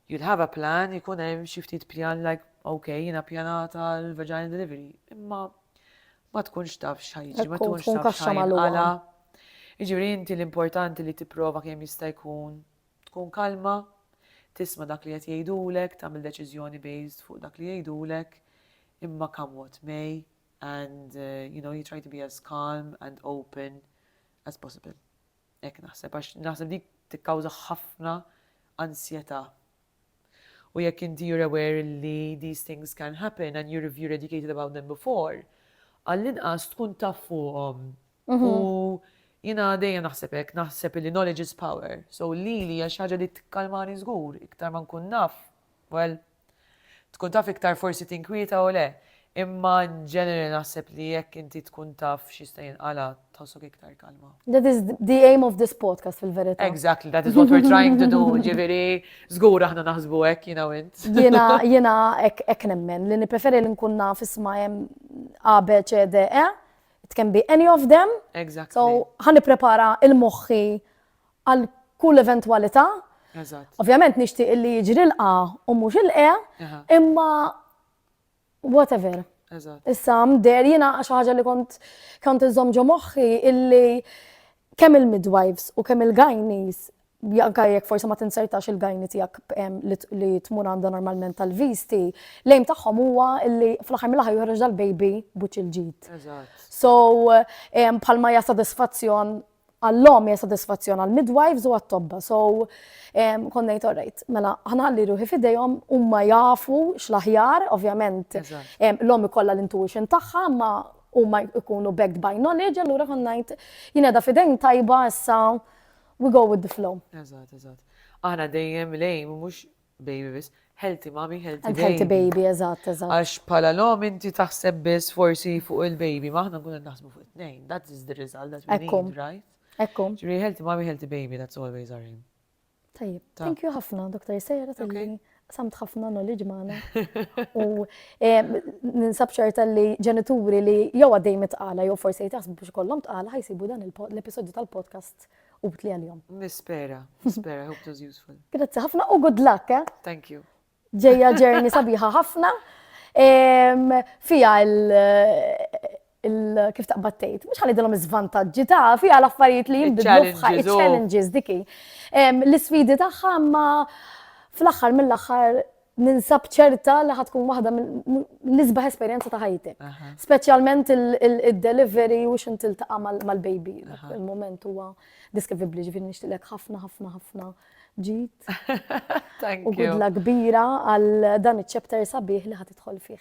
you'll have a plan, jkun hemm xi ftit pjan like, ok, jiena pjanata l-vaginal delivery, imma ma tkunx taf x'ħajġi, ma tkunx taf x'ħajġi. Jiġifieri inti l-importanti li tipprova kemm jista' jkun Tkun kalma, tisma' dak li qed jgħidulek, tagħmel deċiżjoni based fuq dak li jgħidulek, imma come what may and you know you try to be as calm and open as possible. Hekk naħseb għax naħseb dik tikkawża ħafna ansjetà. U jekk inti you're aware li these things can happen and you're you're educated about them before, għall-inqas tkun taf fuqhom U jiena dejjem naħseb hekk, naħseb illi knowledge is power. So lili hija xi ħaġa li tikkalmani żgur, iktar ma nkun naf, well, tkun taf iktar forsi tinkwieta u le. Imma in general naħseb li jekk inti tkun taf x'jista' jinqala' tħossok iktar kalma. That is the aim of this podcast fil-verità. Exactly, that is what we're trying to do, ġifieri żgur aħna naħsbu hekk jiena u int. Jiena jiena hekk hekk nemmen li nippreferi li nkun naf isma' hemm A, B, C, D, E It can be any of them. Exactly. So, ħan nipprepara il-moħħi għal kull eventwalità. Eżatt. Ovvjament nixtieq illi jiġri l-qa u mhux il-qe, imma whatever. Eżatt. Issa mder jiena xi ħaġa li kont kont inżomm ġo moħħi illi kemm il-midwives u kemm il-gajnis anke jekk forsi ma tinzertax il-gajni tiegħek li tmur għandha normalment tal-visti, l-aim tagħhom huwa li fl-aħħar mill-aħħar joħroġ dal-baby buċċ il-ġid. So bħalma hija sodisfazzjon għall-lom hija sodisfazzjon għall-midwives u għat-tobba. So konna jgħid orrejt, mela ħana ħalli ruħi fidejhom huma jafu x'l-aħjar, ovvjament l-lom ikollha l-intuition tagħha, ma huma jkunu backed by knowledge, allura konna jgħid jien qiegħda fidejn tajba issa We go with the flow. Eżatt, eżatt. Aħna dejjem lejm, mhux baby biss, healthy mommy, healthy baby. Healthy baby, eżatt, eżatt. Għax bħala l-om inti taħseb biss forsi fuq il-baby, ma aħna nkunu naħsbu fuq it-tnejn. That is the result that we need, right? Ekkum. Ġri healthy mommy, healthy baby, that's always our aim. Tajib, thank you ħafna, Dr. Sejra, tal-lini. Samt ħafna knowledge maħna. U eh, ninsab ċerta li ġenituri li jew għaddej mitqala jew forse jtasbu biex kollom tqala ħajsibu dan l-episodju tal-podcast u btli għal-jom. Nispera, nispera, hope it was useful. Grazzi ħafna u good luck, eh? Thank you. Ġeja ġerni sabiħa ħafna. Fija kif taqbad tgħid, mhux ħanidilhom iż-żvantaġġi ta' fiha l-affarijiet li jinbidlu f'ħajja oh. challenges diki. L-isfidi tagħha ma fl-aħħar mill-aħħar ninsab ċerta li ħatkun waħda l-isbaħ esperjenza ta' ħajti. Speċjalment il-delivery u xin tiltaqa' mal-baby. Il-moment huwa deskrivibbli ġifieri nixtilek ħafna ħafna ħafna ġid. U għidla kbira għal dan iċ-ċepter sabiħ li ħad idħol fih.